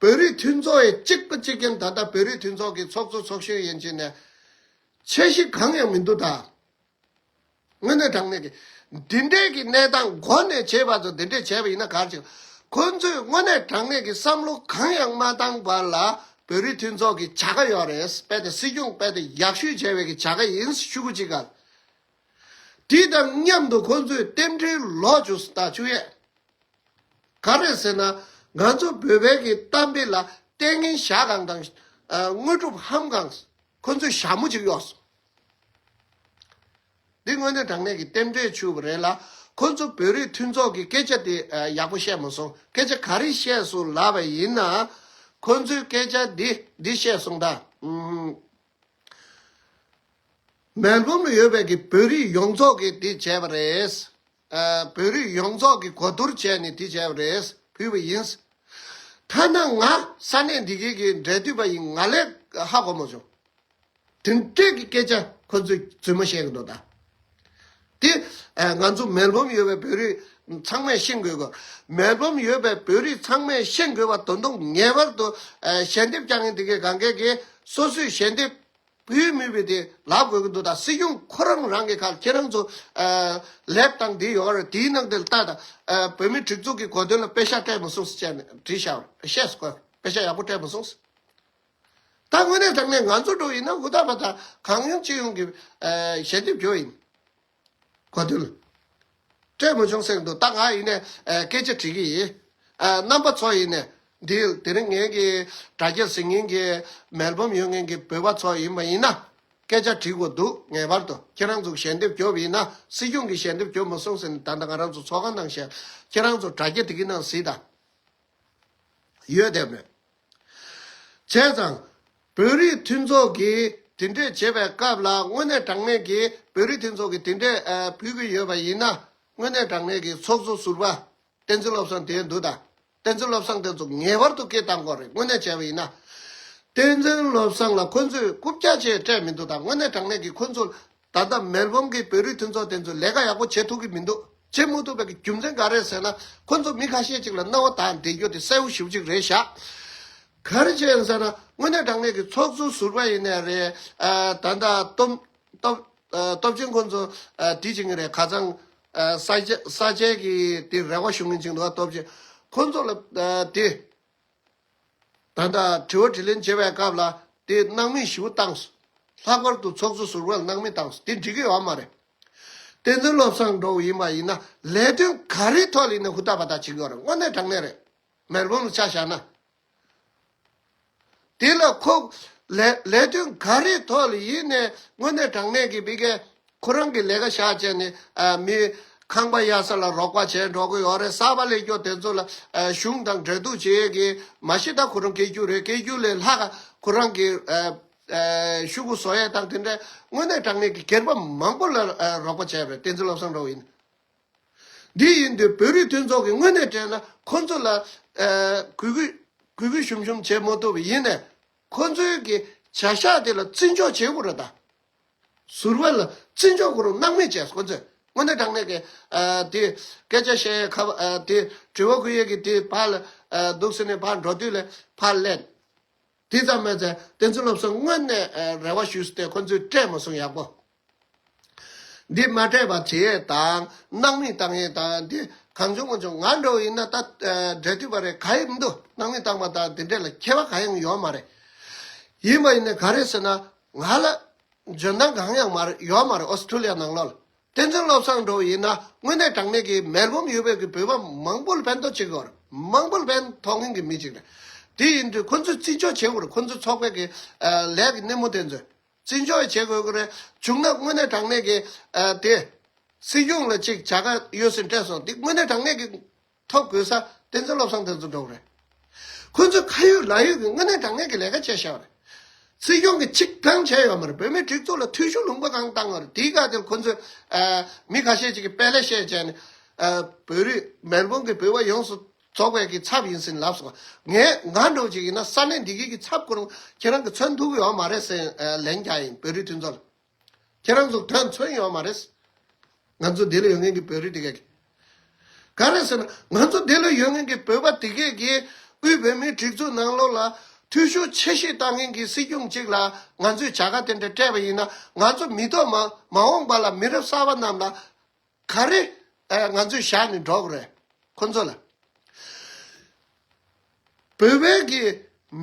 བོད་རིགས་མཐུན་ཚོགས་ཡས་གཅིག་པ་གཅིག་རྐྱེན་ད་ལྟ་བོད་རིགས་མཐུན་ཚོགས་ཀྱི་ཚོགས་གཙོ་ཚོགས་གཞོན་ཡན་ཅིག་ནས་ཆེ་གཞི་གང་ཡང་མི་འདུག་ད་དངོས་གནས་དྲང་གནས་ཀྱི་འདི་འདྲས་ཀྱི་གནས་སྟངས་མགོ་ནས་བྱེད་པ་ཚོ་འདི་འདྲས་བྱས་པ་ཡིན་ན་ག་རེ་བྱེད། ཁོ་ཚོས་དངོས་གནས་དྲང་གནས་ཀྱི་བསམ་བློ་གང་ཡང་མ་བཏང་བར་ལ་བོད་རིགས་མཐུན་ཚོགས་ཀྱི་བྱ་དགའ་ཡོད་རེད་དཔེ་དེ་སྲིད་སྐྱོང་དཔེ་དེ་ཡག་ཤོས་བྱས་བའི་གི་བྱ་དགའ་ཡིན་ཤུ་གུ་ཅི་ག་ལ། དེ་དང་མཉམ་དུ་ཁོ་ཚོས་རྟེན་འབྲེལ་ལོག་བཅུ་ས་དང་བཅུ་ཡས། ག་རེ་ཟེར་ན་ང་ཚོ་བོད་བལ་གྱི་གཏམ་དཔེ་ལ་ལྟས་ངན་ཞག་གང་དང་དངོས་གྲུབ་ཧམ་གང་ཁོ་ཚོས་ཞྭ་མོ་ཅིག་གཡོགས་སོང། འདི་དངོས་གནས་དྲང་གནས་ཀྱི་རྟེན་འབྲེལ་ཆུ་བོ་རེད་ལ། ཁོ་ཚོ་བོད་རིགས་མཐུན་ཚོགས་ཀྱི་སྐད་ཆ་དེ་ཡག་པོ་བཤད་མ་སོང། སྐད་ཆ་ག་རེ་བཤད་སོང་ལབ་པ་ཡིན་ན། ཁོ་ཚོའི་སྐད་ཆ་འདི་འདི་བཤད་སོང་ད། མལ་བུམ་ལ་ཡོད་པའི་གི་བོད་རིགས་ཡོངས་རྫོགས་ཀྱིས་དེ་བྱས་པ་རེད། བོད་རིགས་ཡོངས་རྫོགས་ཀྱིས་གོ་བསྡུར་བྱས་ནས་དེ་བྱས་པ་རེད་ཕུལ་བ་ཡིན། ཐ་ན་ང་ས་གནས་འདི་གའི་གི་འབྲེལ་མཐུད་པ་ཡིན་ང་ལས་ཧ་གོ་མ་བྱུང། དེ་འདྲས་ཀྱི་སྐད་ཆ་ཁོ་ཚོས་རྫུན་མ་བཤད་གི་འདུག་ད། དེ་ང་ཚོ་མེལ་བོམ་ཡོད་པའི་བོད་རིགས་ཚང་མས་ཤེས་དགོས་གི། མེལ་བོམ་ཡོད་པའི་བོད་རིགས་ཚང་མས་ཤེས་དགོས་པ་དོན་དུ་ངེས་པར་དུ་ཞལ་འདེབས་བསྐྱང་ངེས་འདི་གའི་གངས་སྐད་ཀྱི་སོ་སོའི་ཞལ་འདེབས་བུའི་མི་བུ་དེ་ལ་དགོས་ཀྱི་འདུག་ད་སྲིད་སྐྱོང་ཁོ་རང་རང་གི་ཁ་ཁྱེད་རང་ཚོ་ལེགས་དང་དེ་ཡོད་རེད་དེའི་ནང་དེ་ལ་ལྟ་ད་བོད་མི་སྒྲིག་འཛུགས་ཀྱི་གོ་དོན་ལ་དཔེ་ཤ་སྤྲད་མི་སོང་ཟེར་བྱས་ནས་བྲིས་ཤ་བཤད་སོ་དཔེ་ཤ་ཡག་པོ་སྤྲད་མི་སོང་ཟེར། ད་དངོས་གནས་དྲང་གནས་ང་ཚོ་འགྲོ་ཡིན་ན་ཧུར་ཐག་པ་ད་གང་ཡོང་ཅི་ཡོང་གི་ཞལ་འདེབས་བྱོས་ཡིན། གོ་བསྡུར། སྤྲོས་མི་འབྱུང་སེང་འདུག་རྟགས་ང་ཡིན་ནས་སྐད་ཆ་དྲིས་ཀྱི་ཡིན། རྣམ་པ་ཚོ་ཡིན་ནས་འདུལ། དེ་རིང་ངེད་ཀྱི་དྲ་རྒྱའི་གཟིགས་ཉིན་གྱི་མལ་འབུམ་ཡོད་མཁན་གྱི་བོད་པ་ཚོ་ཡིན་པ་ཡིན་ན། སྐད་ཆ་དྲིས་དགོས་འདུག་ངེས་པར་དུ་ཁྱེད་རང་ཚོ་ཞལ་འདེབས་རྒྱོབ་ཡིན་ན་སྲིད་སྐྱོང་གིས་ཞལ་འདེབས་རྒྱོབ་མ་སོང་ཟེར་ནས་ད་ལྟ་ང་རང་ཚོ་ཚོགས་ཁང་ནང་ཞལ་ཁྱེད་རང་ཚོ་དྲ་རྒྱ་དེ་གི་ནང་གཟིགས་དང་ཡོད་བསྡད་མོད། བྱས་ཙང། བོད་རིགས་མཐུན་ཚོགས་ཀྱིས་དེ་འདྲས་བྱས་པའི་སྐབས་ལ་དངོས་གནས་དྲང་གནས་ཀྱིས་བོད་རིགས་མཐུན་ཚོགས་ཀྱིས་དེ་འདྲས་ཕུལ་གྱི་ཡོད་པ་ཡིན་ན། དངོས་གནས་དྲང་གནས་ཀྱིས་ཚོགས་གཙོ་ཟུར་པ་བསྟན་འཛིན་བློ་བཟང་དེའི་འདུག་དང། བསྟན་འཛིན་བློ་བཟང་དེ་ཚོ་ངེས་པར་དུ་སྐད་བཏང་དགོས་རེད་དངོས་གནས་བྱས་པ་ཡིན་ན། བསྟན་འཛིན་བློ་བཟང་ལ་ཁོ་ཚོས་རྐུབ་བཀྱག་བྱས་སྤྲད་མི་འདུག་དང་དངོས་གནས་དྲང་གནས་ཀྱིས་ཁོ་ཚོ་ད་ལྟ་མེལ་བྷོམ་གྱི་བོད་རིགས་མཐུན་ཚོགས་དེ་ཚོས་ལས་ཀ་ཡག་པོ་བྱེད་ཐུབ་ཀྱི་མི་འདུག་བྱེད་མུ་ཐུབ་པའི་རྒྱུ་མཚན་ག་རེད་ཟེར་ན་ཁོ་ཚོ་མི་ཁ་ཤས་ཅིག་ལ་རྣ་བ་དག་འདེད་རྒྱུ་དེ་གསལ་བོ་ཞིབ་ཅིག་རེད་བཞག་ག་རེ་བྱེད་ཡོང་ཟེར་ན་དངོས་གནས་དྲང་གནས་ཀྱི་ཚོགས་གཙོ་ཟུར་པ་ཡིན་ནའི་རེད་ད་ལྟ་སྟོབས་སྟོབས་ཆེན་ཁོ་ཚོ་འདྲི་བྱེད་ཀྱི་རེད་ཁ་ཚང་ས་ཆའི་གི་དེ་རེ་བ་ཞུ་ངེས་ཅིག་འདུག་སྟོབས་ཆེན་ཁོ་ཚོ་ལ་དེ། ད་ལྟ་དྲི་བ་དྲི་ལན་བྱེད་པའི་སྐབས་ལ་དེ་སྣང་མེད་ཞུ་བཏང། ལྷག་པར་དུ་ཚོགས་གཙོ་ཟུར་བར་སྣང་མེད་བཏང་དེ་འགྲིག་གི་ཡོད་མ་རེད། བསྟན་འཛིན་བློ་བཟང་འགྲོ་བ་ཡིན་པ་ཡིན་ན་ལས་དོན་ག་རེའི་ཐོག་ལ་ཡིན་ན་ཧུར་ཐག་པ་ཐག་བྱེད་དགོས་རེད་དངོས་གནས་དྲང་གནས་རེད། མེལ་བོན་ལ་ཆ་བཞག་ན། དེ་ལ་ཁོ། ལས་དོན་ག་རེའི་ཐོག་ལ་ཡིན་ནས་དངོས་གནས་དྲང་གནས་ཀྱི་དཔེ་གལ། ཁོ་རང་གི་ལས་ཀ་བཞག་བྱས་ནས་མི། ཁང་པ་གཡར་ས་ལ་རོགས་པ་བྱས་འགྲོ་གི་ཡོད་རེད་གསར་པ་ལས་སྐྱོར་དེ་ཚོ་ལ་གཞུང་དང་འབྲེལ་གཏུག་བྱེད་ཡོད་ཀི་མ་ཤེས་ད་ཁོ་རང་སྐད་རྒྱུད་རེད་སྐད་རྒྱུད་ལས་ལྷག་ཁོ་རང་གི་ཤུགས་ཀུ་བཟོ་ཡས་དང་དེ་འདྲ་དངོས་གནས་དྲང་གནས་ཀི་སྒེར་པ་མང་པོ་ལ་རོགས་པ་བྱས་རེད་བསྟན་འཛིན་བློ་བཟང་འགྲོ་ཡིན་འདི་ཡིན་དུས་བོད་རིགས་མཐུན་ཚོགས་ཀི་དངོས་གནས་དྲན་ན་ཁོ་ཚོ་ལ་གུས་གུས་གུས་གུས་ཞུམ་ཞུམ་བྱེད་མ་ཐུབ་ཡིན་ནས་ཁོ་ཚོའི་གི་བྱ་བཞག་དེ་ལ་བརྩི་འཇོག་བྱེད་དགོས་རེད་ད། ཟུར་བ་ལ་བརྩི་འཇོག་གོ་རུང་སྣང་མེད་བཅས་ཁོ་ཚོས་དངོས་གནས་དྲང་གནས་ཀྱི་དེ་སྐད་ཆ་བཤད་ཁ་བ་དེ་དྲི་བ་ཁུར་ཡས་ཀྱི་དེ་ཕར་ལ་འདུག་ཟེར་ནས་ཕར་འགྲོ་དུས་ལས་ཕར་གླན། དེ་ཙམ་མོས་ཚལ་བསྟན་འཛིན་སློབ་གསོ་དངོས་གནས་རེ་བ་ཞུས་ཏེ་ཁོ་ཚོས་སྤྲད་མ་སོང་ཡག་པོ། འདི་མ་སྤྲད་པར་བྱེད་ཡས་དང་སྣང་མེད་བཏང་ཡས་དང་དེ་གང་བྱུང་མ་བྱུང་ང་འགྲོ་བ་ཡིན་ན་ད་འབྲེལ་དུས་པ་རེད་ག་ཡིན་མི་འདུག་སྣང་མེད་བཏང་པ་དང་དེ་འབྲེལ་ལ་ཁྱད་པ་ག་ཡང་ཡོད་མ་རེད། ཡིན་པ་ཡིན་ནས་ག་རེད་ཟེར་ན་ང་ལ་འཇོན་ཐང་གང་ཡང་མ་རེད་ཡོད་མ་རེད་ཨོ་སི་ཁྲུ་ལི་ཡ་ནང་ལོགས་ལ་བསྟན་འཛིན་བློ་བཟང་འགྲོ་བ་ཡིན་ན་དངོས་གནས་དྲང་གནས་ཀྱི་མེར་བུམ་ཡོད་པའི་གི་བོད་པ་མང་པོ་ལ་ཕན་ཐོག་བྱེད་དགོས་རེད་མང་པོ་ལ་ཕན་ཐོག་ངེས་ཀྱི་མི་གཅིག་རེད་དེ་ཡིན་དུས་ཁོ་ཚོས་བརྩི་འཇོག་བྱེད་དགོས་རེད་ཁོ་ཚོའི་ཚོགས་པའི་གི་ལས་ཀྱི་སྣེ་མོ་དེ་ཚོས་བརྩི་འཇོག་ཡང་བྱེད་དགོས་ཀྱི་རེད་བྱུང་ན་དངོས་གནས་དྲང་གནས་ཀྱི་དེ། སྲིད་སྐྱོང་ལ་ཅིག་བྱ་དགའ་ཡོད་སྲིད་སྤྲད་སོང་དེ་དངོས་གནས་དྲང་གནས་ཀྱི་ཐོ་བཀོད་ས་བསྟན་འཛིན་བློ་བཟང་བསྟན་འཛིན་འགྲོ་བ་རེད། ཁོ་ཚོས་ཁ་ཡོད་ལག་ཡོད་ཀྱི་དངོས་གནས་དྲང་ངེས་ཀྱི་ལས་ཀ་བྱས་ཤག་རེད། སྲིད་སྐྱོང་གིས་ཆིག་སྒང་བྱས་ཡོད་མ་རེད་བོད་མིའི་སྒྲིག་འཛུགས་ལ་འཐུས་ཤོར་ལུང་པ་གང་བཏང་ཡོད་རེད་དེའི་སྐབས་དེར་ཁོ་ཚོས། མི་ཁ་ཤས་ཅིག་གིས་དཔེ་ལེགས་བཤད་བྱས་ནས། བོད་རིགས་མེར་བུང་གི་བུད་བ་ཡོངས་སུ་རྫོགས་པའི་གི་ཚབ་ཡིན་ཟིན་ལབ་སོང། ངས་ང་འགྲོ་ཅིག་ཡིན་ན་ས་གནས་འདི་གའི་གི་ཚབ་སྐུ་རུང་ཁྱེད་རང་གི་མཚོན་ཐུག་གི་ཡོད་མ་རེད་ཟེར་ལན་རྒྱག་ཡིན་བོད་རིགས་མཐུན་ཚོགས་ལ། ཁྱེད་རང་ཚོ་དོན་མཚོན་ཡོད་མ་རེད། ང་ཚོ་འདི་ལ་ཡོད་མཁན་གྱི་བོད་རིགས་དེ་གས་ཀྱི། ག་རེད་ཟེར་ན་ང་ཚོ་འདི་ལ་ཡོད་མཁན་གྱི་བོད་པ་དེ་གས་ཀྱི་དབུས་བོད་མིའི་སྒྲིག་འཛུགས་ནང་ལོགས་ལ་འཐུས་ཤོར་ཆེ་ཤོས་བཏང་མཁན་གྱི་སྲིད་སྐྱོང་གཅིག་ལ་ང་ཚོས་བྱ་དགའ་དེ་འདྲ་སྤྲད་པ་ཡིན་ན་ང་ཚོ་མི་ཐོག་མ་མ་འོངས་པ་ལ་མི་རབས་གསར་པ་རྣམས་ལ་ག་རེ་ང་ཚོས་བཞག་ནས་འགྲོ་གི་རེད་ཁོ་ཚོ་ལ། བོད་པའི་གི་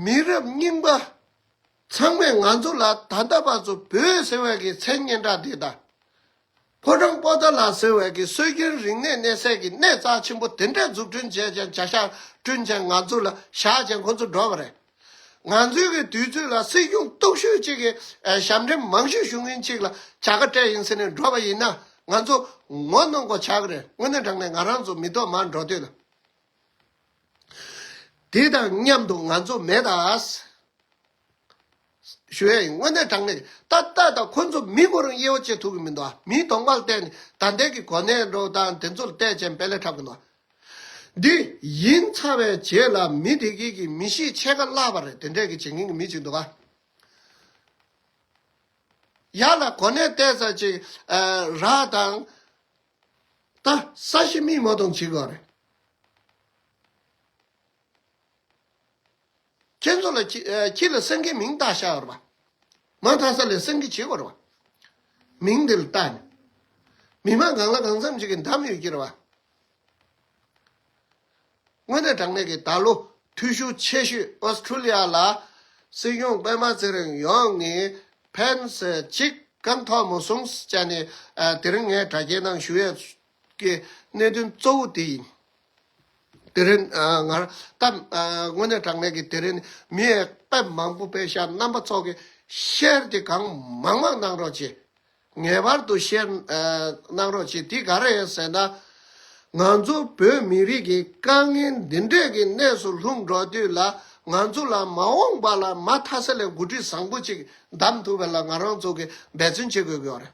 མི་རབས་རྙིང་པ་ཚང་མས་ང་ཚོ་ལ་ད་ལྟ་བར་དུ་བོད་ཟེར་བའི་གི་མཚན་སྙན་གྲགས་འདི་དང། ཕོ་བྲང་པོ་ཏཱ་ལ་ཟེར་བའི་གི་སྲོལ་རྒྱུན་རིག་གནས་གནས་སའི་གི་གནས་རྩ་ཆེན་པོ་དེ་འདྲ་འཛུགས་སྐྲུན་བྱས་ཅིང་བྱ་བཞག་བསྐྲུན་ཅིང་ང་ཚོ་ལ་བཞག་ཅིང་ཁོ་ཚོ་འགྲོ་གི་རེད། ང་ཚོའི་གི་དུས་ཚོད་ལ་སྲིད་གཞུང་སྟོབས་ཤུགས་ཅིག་གི་ཞབས་འདྲེན་མང་ཤོས་ཞུ་མཁན་ཅིག་ལ་བྱ་དགའ་སྤྲད་ཡིན་ཟེར་ནས་འགྲོ་བ་ཡིན་ན་ང་ཚོ་ངོ་གནོང་གོ་ཆག་རེད་དངོས་གནས་དྲང་ནས་ང་རང་ཚོ་མི་ཐོག་མར་འགྲོ་དུས་ལ། དེ་དང་མཉམ་དུ་ང་ཚོ་མེད་ད། ཞུ་ཡ་ཡིན་དངོས་གནས་དྲང་ནས་ད་ལྟ་ད་ཁོ་ཚོ་མི་ངོ་རང་དབྱེ་བ་བྱེད་ཐུབ་གི་མི་འདུག་མིའི་གདོང་པར་བལྟས་ནས་ད་ལྟའི་གི་གོ་གནས་འགྲོ་སྟངས་དེ་ཚོ་ལ་བལྟས་རྗེས་འབད་ལས་འཁྲབ་གི་འདུག་འདི། ཡིན་ཚ་བའི་རྗེས་ལ་མི་བདེ་གི་གི་མི་ཤེས་ཆད་ཁ་བླ་བ་རེད་དེ་འདྲས་གི་བྱེད་མཁན་གི་མི་གཅིག་འདུག་ག། ཡ་ལ་གོ་ནས་བལྟས་ས་ཅིག་ར་དང། ད་ས་ཤི་མིག་མོ་དང་གཅིག་གོ་རེད། ཁྱེད་ཚོ་ལ་ཁྱེད་ལ་སེང་གེའི་མིང་བཏགས་ཤག་ར། མ་མཐའ་ས་ལས་སེང་གེ་བྱེད་པར་བ། མིང་འདི་ལ་བཏགས་ནས། མི་མང་གང་ལ་གང་འཚམ་ཅིག་གི་འདམ་ཡོད་ཀྱིར་བ། དངོས་གནས་དྲང་གནས་ཀྱི་ད་ལོ་འཐུས་ཤོར་ཆེ་ཤོས Australia ལ་སྲིད་སྐྱོང་པད་མ་ཚེ་རིང་ཡོང་ངས་ཕན་ཟེར་ཅིག་གང་ཐོག་མོ་སོང་ཟེར་ནས་དེ་རིང་ངས་དྲ་རྒྱའི་ནང་ཞུ་ཡས་ཀྱི་གནད་དོན་གཙོ་བོ་དེ་ཡིན། དེ་རིང་སྔར་ལྟར་དངོས་གནས་དྲང་གནས་ཀྱི་དེ་རིང་མི་ཨེ་དཔེ་མང་པོ་དཔེ་ཤ་རྣམ་པ་ཚོགས་ཀྱི་ཤེར་དེ་གང་མང་མང་གནང་རོགས་གྱིས། ངེས་པར་དུ་ཤེར་གནང་རོགས་གྱིས་དེ་ག་རེད་ཟེར་ན། ང་ཚོ་བོད་མི་རིགས་ཀྱི་དཀའ་ངལ་འདི་འདྲས་ཀྱི་གནས་སུ་ལྷུང་འགྲོ་དུས་ལ་ང་ཚོ་ལ་མ་འོངས་པ་ལ་མ་མཐའ་ས་ལས་འགོ་ཁྲིད་བཟང་པོ་ཅིག་གདམ་ཐུབ་པའི་ལ་ང་རང་ཚོ་གི་འབད་བརྩོན་བྱེད་དགོས་ཀྱི་ཡོད་རེད།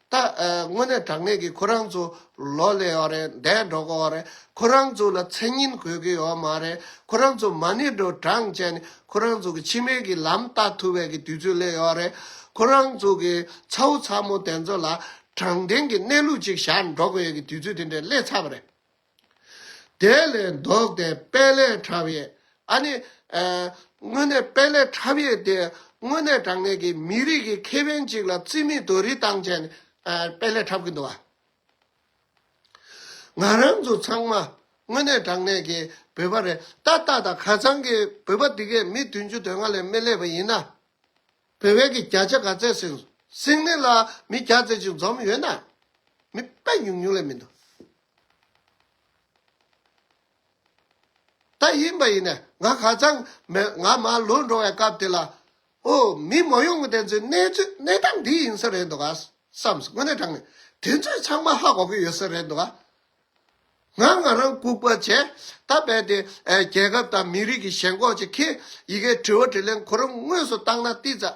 ད་དངོས་གནས་དྲང་གནས་ཀྱི་ཁོ་རང་ཚོ་ལོ་ལེགས་ཡོད་རེད་འདས་འགྲོ་གི་ཡོད་རེད་ཁོ་རང་ཚོ་ལ་མཚན་སྙན་དགོས་ཀྱི་ཡོད་མ་རེད་ཁོ་རང་ཚོ་མ་ཎི་འགྲོ་གྲངས་བཅད་ནས་ཁོ་རང་ཚོ་གི་ཕྱི་མའི་གི་ལམ་བལྟ་ཐུབ་བས་ཀྱི་དུས་ཚོད་སླེབས་ཡོད་རེད་ཁོ་རང་ཚོ་གི་ཚ་བོ་ཚ་མོ་དེ་ཚོ་ལ་དྲང་བདེན་གྱི་གནས་ལུགས་ཅིག་བཞག་འགྲོ་གི་ཡོད་ཀྱི་དུས་ཚོད་དེ་འདྲས་སླེབས་ཚར་བ་རེད། དེ་ལས་བཟློག་སྟེ་དཔལ་ལས་ཕྲ་བའི། ཨ་ནི། དངོས་གནས་དཔལ་ལས་ཕྲ་བའི་དེ། དངོས་གནས་དྲང་གནས་ཀྱི་མི་རིགས་ཀྱི་ཁེ་ཕན་གཅིག་ལ་རྩིས་མེད་དུ་རིས་བཏང་བྱས་ནས་དཔལ་ལས་ཕྲ་གི་འདུག་ཨ། ང་རང་ཚོ་ཚང་མ་དངོས་གནས་དྲང་གནས་ཀྱི་བོད་པ་རེད་ད་ལྟ་དང་ཁ་ཚང་གི་བོད་པ་འདི་གས་མི་བདུན་ཅུ་དོན་ལྔ་ལས་མི་སླེབས་པ་ཡིན་ན། བོད་བལ་གྱི་བརྒྱ་ཆ་ག་ཚད་སིང་སིང་ནི་ལ་མི་བརྒྱ་ཚད་ཅིག་འཛོམས་ཡོད་ན། མི་དཔལ་ཉུང་ཉུང་ལས་མི་འདུག། ད་ཡིན་པ་ཡིན་ནའི་ང་ཧ་ཅང་མོད་ང་མ་ལུས་འགྲོ་བའི་སྐབས་དེ་ལ། ཨོ། མི་མ་ཡོང་གི་དེ་ཚོའི་གནས་ཚུལ་གནས་སྟངས་འདི་ཡིན་ས་རེད་འདུག་ག། བསམས། དངོས་གནས་དྲང་ནས་དེ་ཚོས་ཚང་མ་ཧ་གོ་གི་ཡོད་ས་རེད་འདུག་ག། ང་ང་རང་ལྐུགས་པ་བྱས། ད་རྦད་དེ་རྒྱལ་ཁབ་དང་མི་རིགས་ཀྱི་ཞེན་ཁོག་ཅིག་གིས་ཡི་གེ་དྲི་བ་དྲི་ལན་གོ་རིམ་དངོས་སུ་བཏང་ན་ཏིས་ཙ།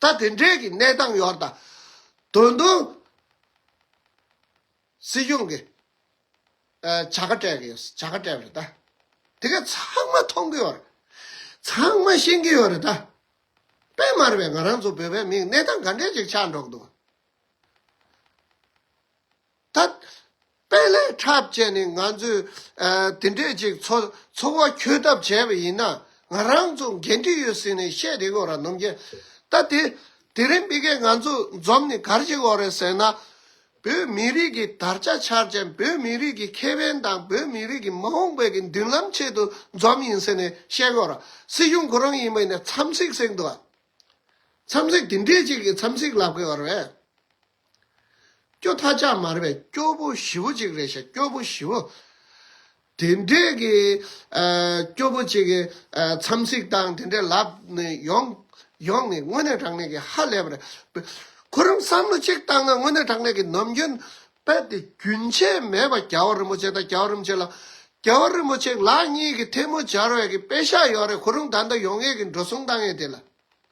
ད་དེ་འདྲའི་གི་གནས་སྟངས་ཡོད་ད། དོན་དུ། སྲིད་གཞུང་གི། བྱ་དགའ་སྤྲད་གི་ཡོད་བྱ་དགའ་སྤྲད་རེད་ད། དེ་ག་ཚང་མ་མཐོང་གི་ཡོད་རེད། ཚང་མ་ཤེས་གི་ཡོད་རེད་ད། དཔེ་མར་བས་ང་རང་ཚོ་བོད་པའི་མིང་གནས་སྟངས་ག་འདྲས་ཅིག་ཆགས་འགྲོ་གི་འདུག། ཐ་དཔེ་ལས་འཁྲབ་བཅས་ནས་ང་ཚོས་དེ་འདྲས་ཅིག་འཚོ་བ་འཁྱོལ་ཐབས་བྱས་པ་ཡིན་ན་ང་རང་ཚོ་འགན་འཁྲི་ཡོད་ཟེར་ནས་བཤད་དེ་གོ་ར་ནོམ་རྒྱལ་ལྟ་དེ་དེ་རིང་སྤི་སྐད་ང་ཚོ་འཛོམས་ནས་གར་གྱི་གོ་རེད་ཟེར་ན། བོད་མི་རིགས་ཀྱི་དར་ཆ་འཕྱར་ཅན་བོད་མི་རིགས་ཀྱི་ཁེ་ཕན་དང་བོད་མི་རིགས་ཀྱི་མ་འོངས་པའི་གི་མདུན་ལམ་ཆེད་དུ་འཛོམས་ཡིན་ཟེར་ནས་བཤད་གོ་ར་སྲིད་གཞུང་ཁོ་རང་ཡིན་པ་ཡིན་ན་འཚམས་གཟིགས་གཟིགས་འདུག་ཨ་འཚམས་གཟིགས་དེ་འདྲས་ཅིག་གི་འཚམས་གཟིགས་ལབ་གི་གོ་རེད། སྐྱོ་མཐའ་ལྕགས་མར་བའི་སྐྱོ་བོ་བཞི་བོ་གཅིག་རེད་ཤག་སྐྱོ་བོ་བཞི་བོ། དེ་འདྲས་ཀྱི་སྐྱོ་བོ་གཅིག་གི་འཚམས་གཟིགས་སྟངས་དེ་འདྲས་ལབ་ནས་ཡོང་ཡོང་ནི་དངོས་གནས་དྲང་གནས་ཀྱི་ཧ་ལས་པ་རེད། ཁོ་རང་བསམ་བློ་གཅིག་བཏང་ན་དངོས་གནས་དྲང་གནས་ཀྱི་ནམ་རྒྱུན་དཔལ་དེ་རྒྱུན་ཆད་མེད་པར་རྒྱལ་བ་རིན་པོ་ཆེ་དང་རྒྱལ་བ་རིན་པོ་ཆེ་ལགས་རྒྱལ་བ་རིན་པོ་ཆེ་ལགས་གཉིས་ཀྱི་ཐལ་མོ་སྦྱར་བའི་གི་དཔེ་ཤག་ཡོད་རེད་ཁོ་རང་ད་ལྟ་ཡོང་ཡས་ཀྱི་འགྲོ་སོང་བཏང་ཡས་དེ་ལ།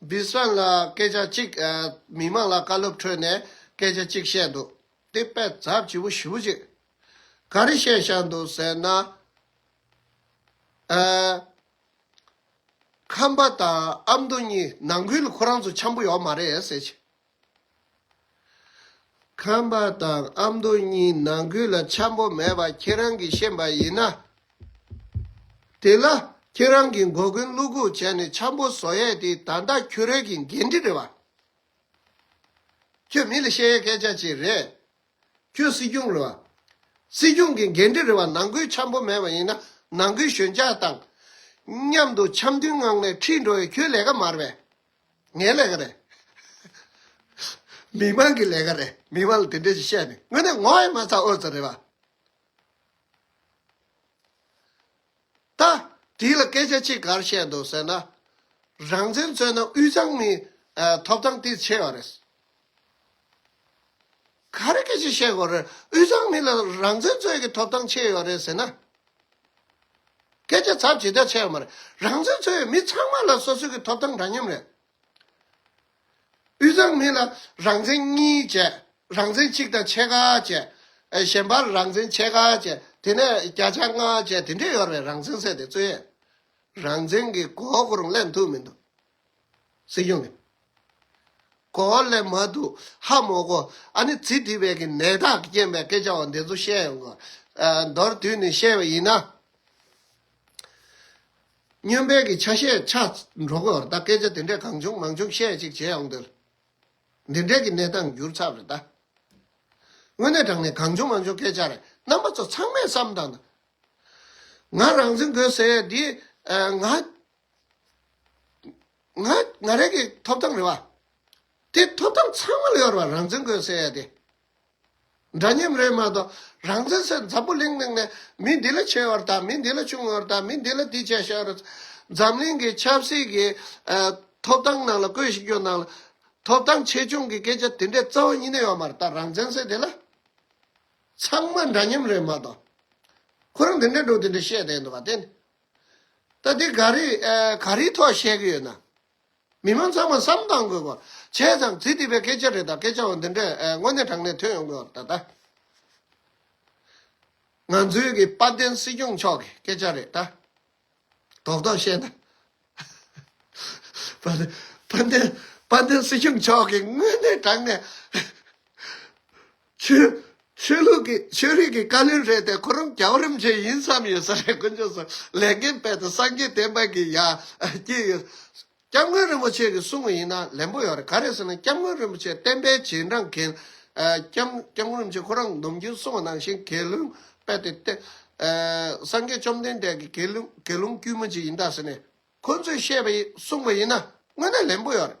སྦིར་སོན་ལ་སྐད་ཆ་གཅིག་མི་དམངས་ལ་བཀའ་སློབ་ཁྲོད་ནས་སྐད་ཆ་གཅིག་བཤད་འདུག་དེ་དཔེ་རྩ་བྱིས་པོ་བཞི་བོ་ཅིག་ག་རེ་བཤད་བཞག་འདུག་ཟེར་ན། ཁམས་པ་དང་ཨ་མདོ་གཉིས་ནང་ཁུལ་ཁོ་རང་ཚོ་འཆམ་པོ་ཡོག་མ་རེད་ཟེར། ཁམས་པ་དང་ཨ་མདོ་གཉིས་ནང་ཁུལ་ལ་འཆམ་པོ་མེད་པ་ཁྱེད་རང་གིས་ཤེས་པ་ཡིན་ན། དེ་ལ་ཁྱེད་རང་གིས་མགོ་རྒོན་བླུག་ཁུག་བྱས་ནས་འཆམ་པོ་བཟོ་ཡས་དེ་ད་ལྟ་ཁྱོད་རས་ཀྱི་འགན་འཁྲི་རེད་བ། ཁྱོད་མི་ལ་བཤད་ཡས་སྐད་ཆ་ཅིག་རེད། ཁྱོད་སྲིད་སྐྱོང་རེད་བ། སྲིད་སྐྱོང་གི་འགན་འཁྲི་རེད་བ་ནང་ཁུལ་འཆམ་པོ་མེད་པ་ཡིན་ན་ནང་ཁུལ་ཞོད་འཇགས་དང། མཉམ་དུ་འཆམ་མཐུན་ངང་ནས་ཁྲིད་འགྲོ་ཡས་ཁྱོད་ལས་ཀ་མ་རེད་བས། ངའི་ལས་ཀ་རེད། མི་དམངས་ཀྱི་ལས་ཀ་རེད། མི་དམངས་ལ་དེ་འདྲས་ཤིག་བཤད་ནས་དངོས་གནས་ངོ་ཡི་མ་ཚ་ཨོ་ཚ་རེད་བ། ད་དེ་ལ་སྐད་ཆ་གཅིག་གར་བཤད་འདུག་ཟེར་ན། རང་བཙན་རྩོད་ན་དབུས་གཙང་ནི་ཐོབ་ཐང་དེ་ཆེ་བ་རེད། ག་རེ་སྐད་ཅིག་བཤད་དགོས་རེད་དབུས་གཙང་མི་ལ་རང་བཙན་རྩོད་ཀྱི་ཐོབ་ཐང་ཕྱེས་ཡོད་རེད་ཟེར་ན། སྐད་ཆ་ཚབ་ཇི་ལྟར་ཆེ་བ་མ་རེད་རང་བཙན་རྩོད་ཡོད་མི་ཚང་མ་ལ་སོ་སོའི་གི་ཐོབ་ཐང་འདྲ་མཉམ་རེད། དབུས་གཙང་མི་ལ་རང་བཙན་གཉིས་བྱས་རང་བཙན་གཅིག་དང་ཕྱེད་ཀ་བྱས། གཞན་པར་རང་བཙན་ཕྱེད་ཀ་བྱས་དེ་ནས་བརྒྱ་ཆ་ལྔ་བྱས་དེ་འདྲས་ཡོད་རེད་རང་བཙན་ཟེར་དེ་རྩོད་ཡས་རང་བཙན་གི་གོ་གོ་རུ་གླེང་ཐུབ་མི་འདུག། སྲིད་སྐྱོང་གིས། གོ་བ་ལས་མ་འདུག་ཧ་མོ་གོ། ཨ་ནི་ཚིག་འདི་བས་ཀྱི་ནད་རྟགས་རྐྱེན་པའི་སྐད་ཆ་བ་འདི་ཚོ་བཤད་ཡོང་གི། མདོར་བསྡུས་ནས་བཤད་པ་ཡིན་ན། སྨྱོན་དཔལ་གྱི་ཆ་ཤས་ཆ་འགྲོ་གི་རེད་ད་སྐད་ཆ་དེ་འདྲས་གང་བྱུང་མང་བྱུང་བཤད་ཅིག་བྱེད་ཡོང་དུས། འདི་འདྲས་ཀྱི་གནས་སྟངས་འགྱུར་ཚར་རེད་ད། དངོས་གནས་དྲང་ནས་གང་བྱུང་མང་བྱུང་སྐད་ཆ་རེད་རྣམ་པ་ཚོ་ཚང་མས་བསམ་དང། ང་རང་འཛིན་དགོས་ཟེར་ཡས་འདི་ང། ང་རང་གི་ཐོབ་ཐང་རེད་བ། དེ་ཐོབ་ཐང་ཚང་མ་ལོས་ཡོར་བ་རང་བཙན་གོས་ཟེར་ཡ་དེ། འདྲ་མཉམ་རེད་མ་གཏོགས་རང་བཙན་ཟེར་འཛམ་བུ་གླིང་ནང་ནས་མི་འདི་ལ་ཆེ་བར་དང་མི་འདི་ལ་ཆུང་བར་དང་མི་འདི་ལ་འདི་བྱས་ཤག་རེད། འཛམ་གླིང་གི་ཆབ་སྲིད་ཀྱི་ཐོབ་ཐང་ནང་ལ་བཀོད་ཞིག་རྒྱུ་ནང་ལ་ཐོབ་ཐང་ཆེ་ཆུང་གི་སྐད་ཆ་དེ་འདྲའི་རྩ་བ་གཉིས་ནས་ཡོར་མ་རེད་ད་རང་བཙན་ཟེར་དེ་ལ། ཚང་མ་འདྲ་མཉམ་རེད་མ་གཏོགས། ཁོ་རང་དེ་འདྲའི་འགྲོ་དེ་འདྲའི་བཤད་དེ་འདུག་བ་དེ། ད་འདི་ག་རེ་ག་རེའི་ཐོག་བཤད་ཀྱི་ཡོད་ན། མི་མང་ཚང་མ་བསམ་གཏང་དགོས་པ། བྱས་ཙང་ཚིག་འདི་པའི་སྐད་ཆ་རེད་ད་སྐད་ཆའང་འདི་འདྲས་དངོས་གནས་དྲང་གནས་ཐོན་ཡོང་དགོས་པ་ད་ལྟ་ང་ཚོའི་གི་དཔལ་ལྡན་སྲིད་སྐྱོང་མཆོག་གི་སྐད་ཆ་རེད་ད། དོག་དོག་བཤད་ན། དཔལ་ལྡན་དཔལ་ལྡན་སྲིད་སྐྱོང་མཆོག་གི་དངོས་གནས་དྲང་གནས། ཆོས་ཆོས་ལུགས་ཀྱི་ཆོས་རིག་གི་བཀའ་ལུང་རེད་དེ་ཁོ་རང་རྒྱ་བོ་རིམ་བྱོན་ཡིན་བསམ་ཡོད་ས་རེད་དཀོན་མཆོག་སོགས་ལས་འགན་སྤེལ་ཏེ་སངས་རྒྱས་བསྟན་པ་གི་ཡ་བསྐྱིལ་ཡོད། སྐྱབས་མགོན་རིན་པོ་ཆེ་གི་གསུང་བ་ཡིན་ན་ལན་པོ་ཡོད་རེད་ག་རེད་ཟེར་ན་སྐྱབས་མགོན་རིན་པོ་ཆེ་བསྟན་པའི་རྗེས་འབྲང་མཁན་སྐྱབས་སྐྱབས་མགོན་རིན་པོ་ཆེ་ཁོ་རང་སྡོམ་རྒྱུའི་གསུང་བ་ནང་བཞིན་དགེ་སློང་སྤེལ་ཏེ་བསྟན་སངས་རྒྱས་བཅོམ་ལྡན་འདས་ཀྱི་དགེ་སློང་དགེ་སློང་དཀྱུས་མ་ཅིག་ཡིན་ད་ཟེར་ནས་ཁོ་ཚོས་བཤད་པ་ཡིན་གསུང་བ་ཡིན་ན་དངོས་གནས་ལན་པོ་ཡོད་རེད།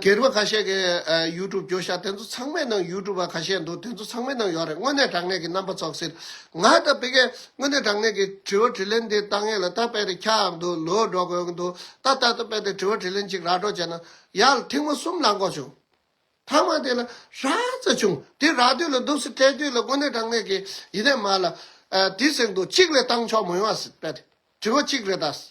གྱེར་བ་ཁ་ཤས་ཀྱི YouTube བསྐྱོར་ཤག་དེ་ཚོ་ཚང་མའི་ནང YouTube པ་ཁ་ཤས་འདུག་དེ་ཚོ་ཚང་མའི་ནང་ཡོད་རེད་དངོས་གནས་དྲང་གནས་ཀྱི་རྣམ་པ་ཚོགས་ཟེར། ང་ད་དཔེ་གལ་དངོས་གནས་དྲང་གནས་ཀྱི་དྲི་བ་དྲི་ལན་འདི་ཏང་ཡོན་ལ་ད་དཔེ་དེ་ཁྱག་ཨང་དུ་ལོས་སྒྲོག་དགོས་ཀྱི་འདུག་ད་ལྟ་ད་དཔེ་དེ་དྲི་བ་དྲི་ལན་གཅིག་ར་སྒྲོག་བྱས་ན་ཡག་ཐེངས་མ་གསུམ་ལ་འགོག་བྱུང། ཐ་མ་དེ་ལ་ར་རྩ་བྱུང་དེ་ར་དུས་ལ་འདུག་སེ་སྤྲད་དུས་ལ་དངོས་གནས་དྲང་གནས་ཀྱི་ཡིན་ནས་མ་ལ། དེ་ཟེར་འདུག་གཅིག་ལས་བཏང་ཆོག་མོ་ཡོང་ཨ་སེ་དཔེ་དེ་དྲི་བ་གཅིག་རེད་ད་སེ།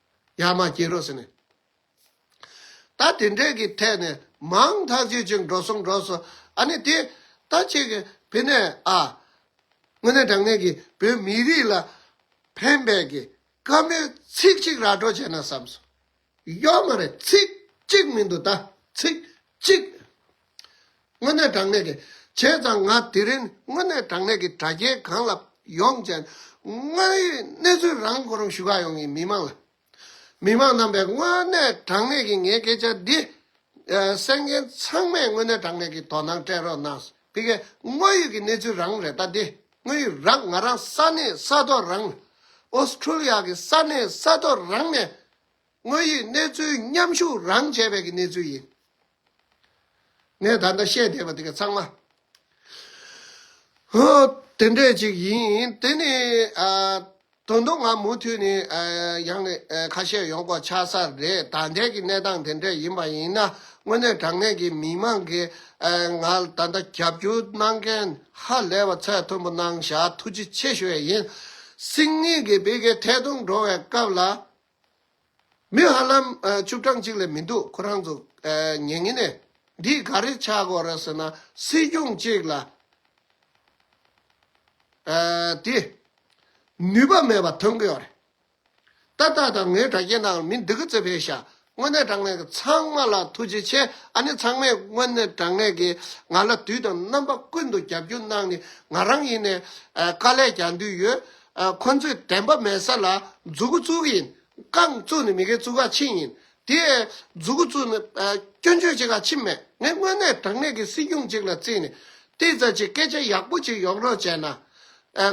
ཡར་མར་སྐྱེལ་རོགས་ཟེར་ནས། ད་དེ་འདྲས་ཀྱི་ཐད་ནས་མང་ཐག་ཆོད་ཅིག་འགྲོ་སོང་འགྲོ་སོང་ཨ་ནི་དེ་ད་ཁྱེད་ཀྱི་བི་ནས་ཨ། དངོས་གནས་དྲང་གནས་ཀྱི་བོད་མི་རིགས་ལ་ཕན་པའི་གི་དཀའ་མོའི་ཚིག་གཅིག་ར་སྤྲོད་བྱས་ན་བསམ་སོང། ཡོད་མ་རེད་ཚིག་གཅིག་མི་འདུག་ད་ཚིག་གཅིག་དངོས་གནས་དྲང་གནས་ཀྱི། བྱས་ཙང་ང་དེ་རིང་དངོས་གནས་དྲང་གནས་ཀྱི་དྲ་རྒྱའི་སྒང་ལ་ཡོང་བྱས། དངོས་ཡོད་གནས་ཚུལ་རང་གོ་རུང་ཞུ་ག་ཡོང་གི་མི་མང་ལ། མི་མང་རྣམས་པས་དངོས་གནས་དྲང་གནས་ཀྱི་ངའི་སྐད་ཆ་འདི། གསན་མཁན་ཚང་མས་དངོས་གནས་དྲང་གནས་ཀྱི་དོ་སྣང་སྤྲད་རོགས་གནང། དེ་གས་དངོས་ཡོད་ཀྱི་གནས་ཚུལ་རང་རེད་ད་དེ། དངོས་ཡོད་རང་ང་རང་ས་གནས་ས་ཐོག་རང། Australia གྱི་ས་གནས་ས་ཐོག་རང་ནས། དངོས་ཡོད་གནས་ཚུལ་མཉམ་ཞུགས་རང་བྱས་པའི་གི་གནས་ཚུལ་ཡིན། ངས་ད་ལྟ་བཤད་བསྡད་པ་དེ་ག་ཚང་མ། དེ་འདྲས་ཅིག་ཡིན། དེ་ནི། དོན་དུ་ང་མུ་མཐུད་ནས་ཡང་ནས་ཁ་བཤད་ཡོང་དགོས་ཆགས་ས་རེད་ད་ལྟའི་གི་གནས་སྟངས་དེ་འདྲས་ཡིན་པ་ཡིན་ན་དངོས་གནས་དྲང་གནས་ཀྱི་མི་མང་གིས་ང་ད་ལྟ་རྒྱབ་སྐྱོར་གནང་མཁན་ཧ་ལས་པ་ཚད་མཐོན་པོ་གནང་བཞག་ཐུགས་རྗེ་ཆེ་ཞུ་བས་ཡིན། སིང་ངེ་གིས་བེ་གའི་ཐད་གཏོང་འགྲོ་བའི་སྐབས་ལ། མི་ཧ་ལམ་བཅུ་གྲངས་གཅིག་ལས་མི་འདུག་ཁོ་རང་ཚོ་ཉེ་ཉེ་ནས་འདིས་ག་རེ་ཆགས་དགོས་རེད་ཟེར་ན་སྲིད་སྐྱོང་གཅིག་ལ་དེ་ནུས་པ་མེད་པ་ཐོན་གི་ཡོད་རེད། ད་ལྟ་དང་ངའི་དྲ་རྒྱའི་ནང་མི་འདི་གི་ཚེ་བྷེ་ཤ་དངོས་གནས་དྲང་གནས་ཀྱི་ཚང་མ་ལ་ཐུགས་རྗེ་ཆེ་ཨ་ནི་ཚང་མས་དངོས་གནས་དྲང་གནས་ཀྱི་ང་ལ་དུས་དང་རྣམ་པ་ཀུན་ཏུ་རྒྱབ་སྐྱོར་གནང་ནི་ང་རང་ཡིན་ནས་དཀའ་ལས་རྒྱག་འདོད་ཡོད་ཁོ་ཚོས་དན་པ་མེད་ས་ལ་རྫུ་གུ་བཙུགས་ཡིན། རྐང་བཙུགས་ནི་མི་གའི་བཙུགས་ཁ་ཕྱིན་ཡིན། དེ་ཡང་རྫུ་གུ་བཙུགས་ནི་སྐྱོན་བརྗོད་བྱེད་ཁ་ཕྱིན་མེད། ངས་དངོས་གནས་དྲང་གནས་ཀྱི་སྲིད་སྐྱོང་ཅིག་ལ་བརྩིས་ནས་དེ་ཙམ་གྱི་སྐད་ཆ་ཡག་པོ་ཅིག་ཡོང་རོགས་བྱས་ན།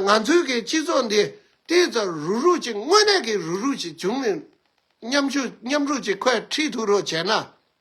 ང་ཚོའི་གི་སྤྱི་ཚོགས་འདི་དེ་ཙམ་རུག་རུག་ཅིག་དངོས་གནས་ཀྱི་རུག་རུག་ཅིག་བྱུང་ནས། མཉམ་ཞུགས་མཉམ་རུག་ཅིག་ཁོས་ཁྲིད་ཐུབ་རོགས་བྱས་ན།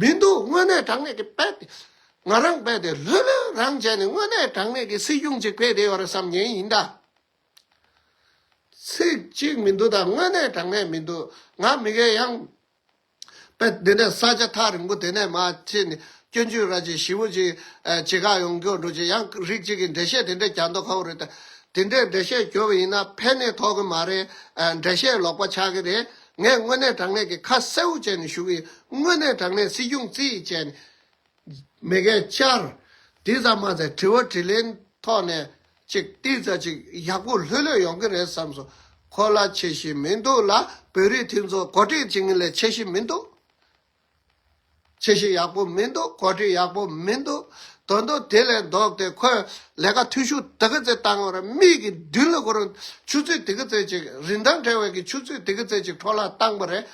མི་འདུག་དངོས་གནས་དྲང་གནས་ཀྱི་དཔེ་དེ་ང་རང་དཔེ་དེ་ལྷོད་ལྷོད་རང་བྱས་ནས་དངོས་གནས་དྲང་གནས་ཀྱི་སྲིད་གཞུང་ཅིག་དཔེ་དེ་ཡོད་རེད་བསམ་ཉན་ཡིན་ད། ཚིག་གཅིག་མི་འདུག་ད་དངོས་གནས་དྲང་གནས་མི་འདུག་ང་མི་དགེ་ཡང། དཔེ་འདི་ནས་ས་ཆ་ཐག་རིང་པོ་དེ་ནས་མ་ཕྱིན་ནས་སྐྱོན་བརྗོད་ར་ཅི་ཞིབ་པོ་ཅིག་བྱེད་ཁག་ཡོང་སྐྱོ་འགྲོ་ཅི་ཡང་རིགས་གཅིག་གི་འགྲེལ་བཤད་དེ་འདྲས་གྱ་འདོག་ཁག་པོ་རེད་ད། དེ་འདྲས་འགྲེལ་བཤད་གྱོ་བ་ཡིན་ན་ཕན་ནི་ཐོག་གི་མ་རེད་འགྲེལ་བཤད་ལོག་པ་ཆགས་ཀྱི་རེད། ངས་དངོས་གནས་དྲང་གནས་ཀྱི་ཁ་གསལ་བོ་བྱས་ནས་ཞུ་གི་ཡིན། དངོས་གནས་དྲང་གནས་སྲིད་སྐྱོང་རྩིས་ཡིག་བྱས་ནས། མི་འགས་བཅར། དེ་ཙམ་མ་ཟད་དྲི་བ་དྲིས་ལན་ཐོག་ནས་ཅིག་ཏིག་ཙག་ཅིག་ཡག་པོ་ལྷོད་ལྷོད་ཡོང་གི་རེད་བསམ་སོང། གོ་ལ་ཆེ་ཞིག་མི་འདུག་ལ་བོད་རིགས་མཐུན་ཚོགས་གོ་སྒྲིག་བྱེད་མཁན་ལས་ཆེ་ཞིག་མི་འདུག། ཆེ་ཞིང་ཡག་པོ་མི་འདུག་གོ་སྒྲིག་ཡག་པོ་མི་འདུག་དོན་དུ་དེ་ལས་ལྡོག་སྟེ་ཁོས་ལས་ཀ་འཐུས་ཤོར་དེ་ག་ཚོད་བཏང་ངོ་རེད་མིག་གིས་མདུན་ལ་གོ་རུང་ཆུ་ཚོད་དེ་ག་ཚོད་ཅིག་རིན་ཐང་བྲལ་བའི་གི་ཆུ་ཚོད་དེ་ག་ཚོད་ཅིག་འཕྲོ་བརླག་བཏང་པ་རེད།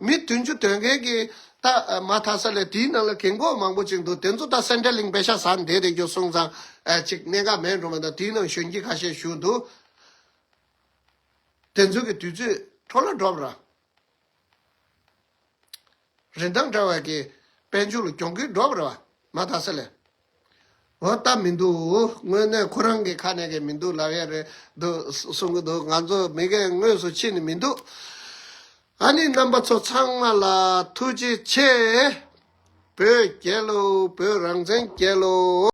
མི་དུས་མཆུ་དོད་མཁན་གྱི་ད་མ་དྷ་ས་ལས་དེའི་ནང་ལ་གེང་ཀོག་མང་པོ་ཅིག་འདུག་དེ་ཚོ་ད་སེན་ཏྲེ་ལིང་པེ་ཤ་ཟ་འདེད་དེ་རྒྱུ་སོང་ཙང་ཅིག་གནད་འགག་མེད་འགྲོ་མ་མཐའ་དེའི་ནང་གཞོན་སྐྱེས་ཁ་ཤས་བཞུགས་འདུག་དེ་ཚོའི་གི་དུས་ཚོད་འཕྲོ་བརླག་འགྲོ་པ་ར། རིན་ཐང་བྲལ་བ་གྱི་དཔལ་འབྱོར་གྱོང་གུན་སྒྲོག་པར་བ་མ་ད་ས་ལས། འོ་ད་མི་འདུག་དངོས་གནས་ཁོ་རང་གི་ཁ་ནས་གི་མི་འདུག་ལབ་ཡ་རེད་འདུག་གསུང་གི་འདུག་ང་ཚོ་མི་རྒན་དངོས་སུ་ཕྱིན་ནི་མི་འདུག་ཨ་ནི་རྣམ་པ་ཚོ་ཚང་མ་ལ་ཐུགས་རྗེ་ཆེ། བོད་རྒྱལ་ལོ་བོད་རང་བཙན་རྒྱལ་ལོ།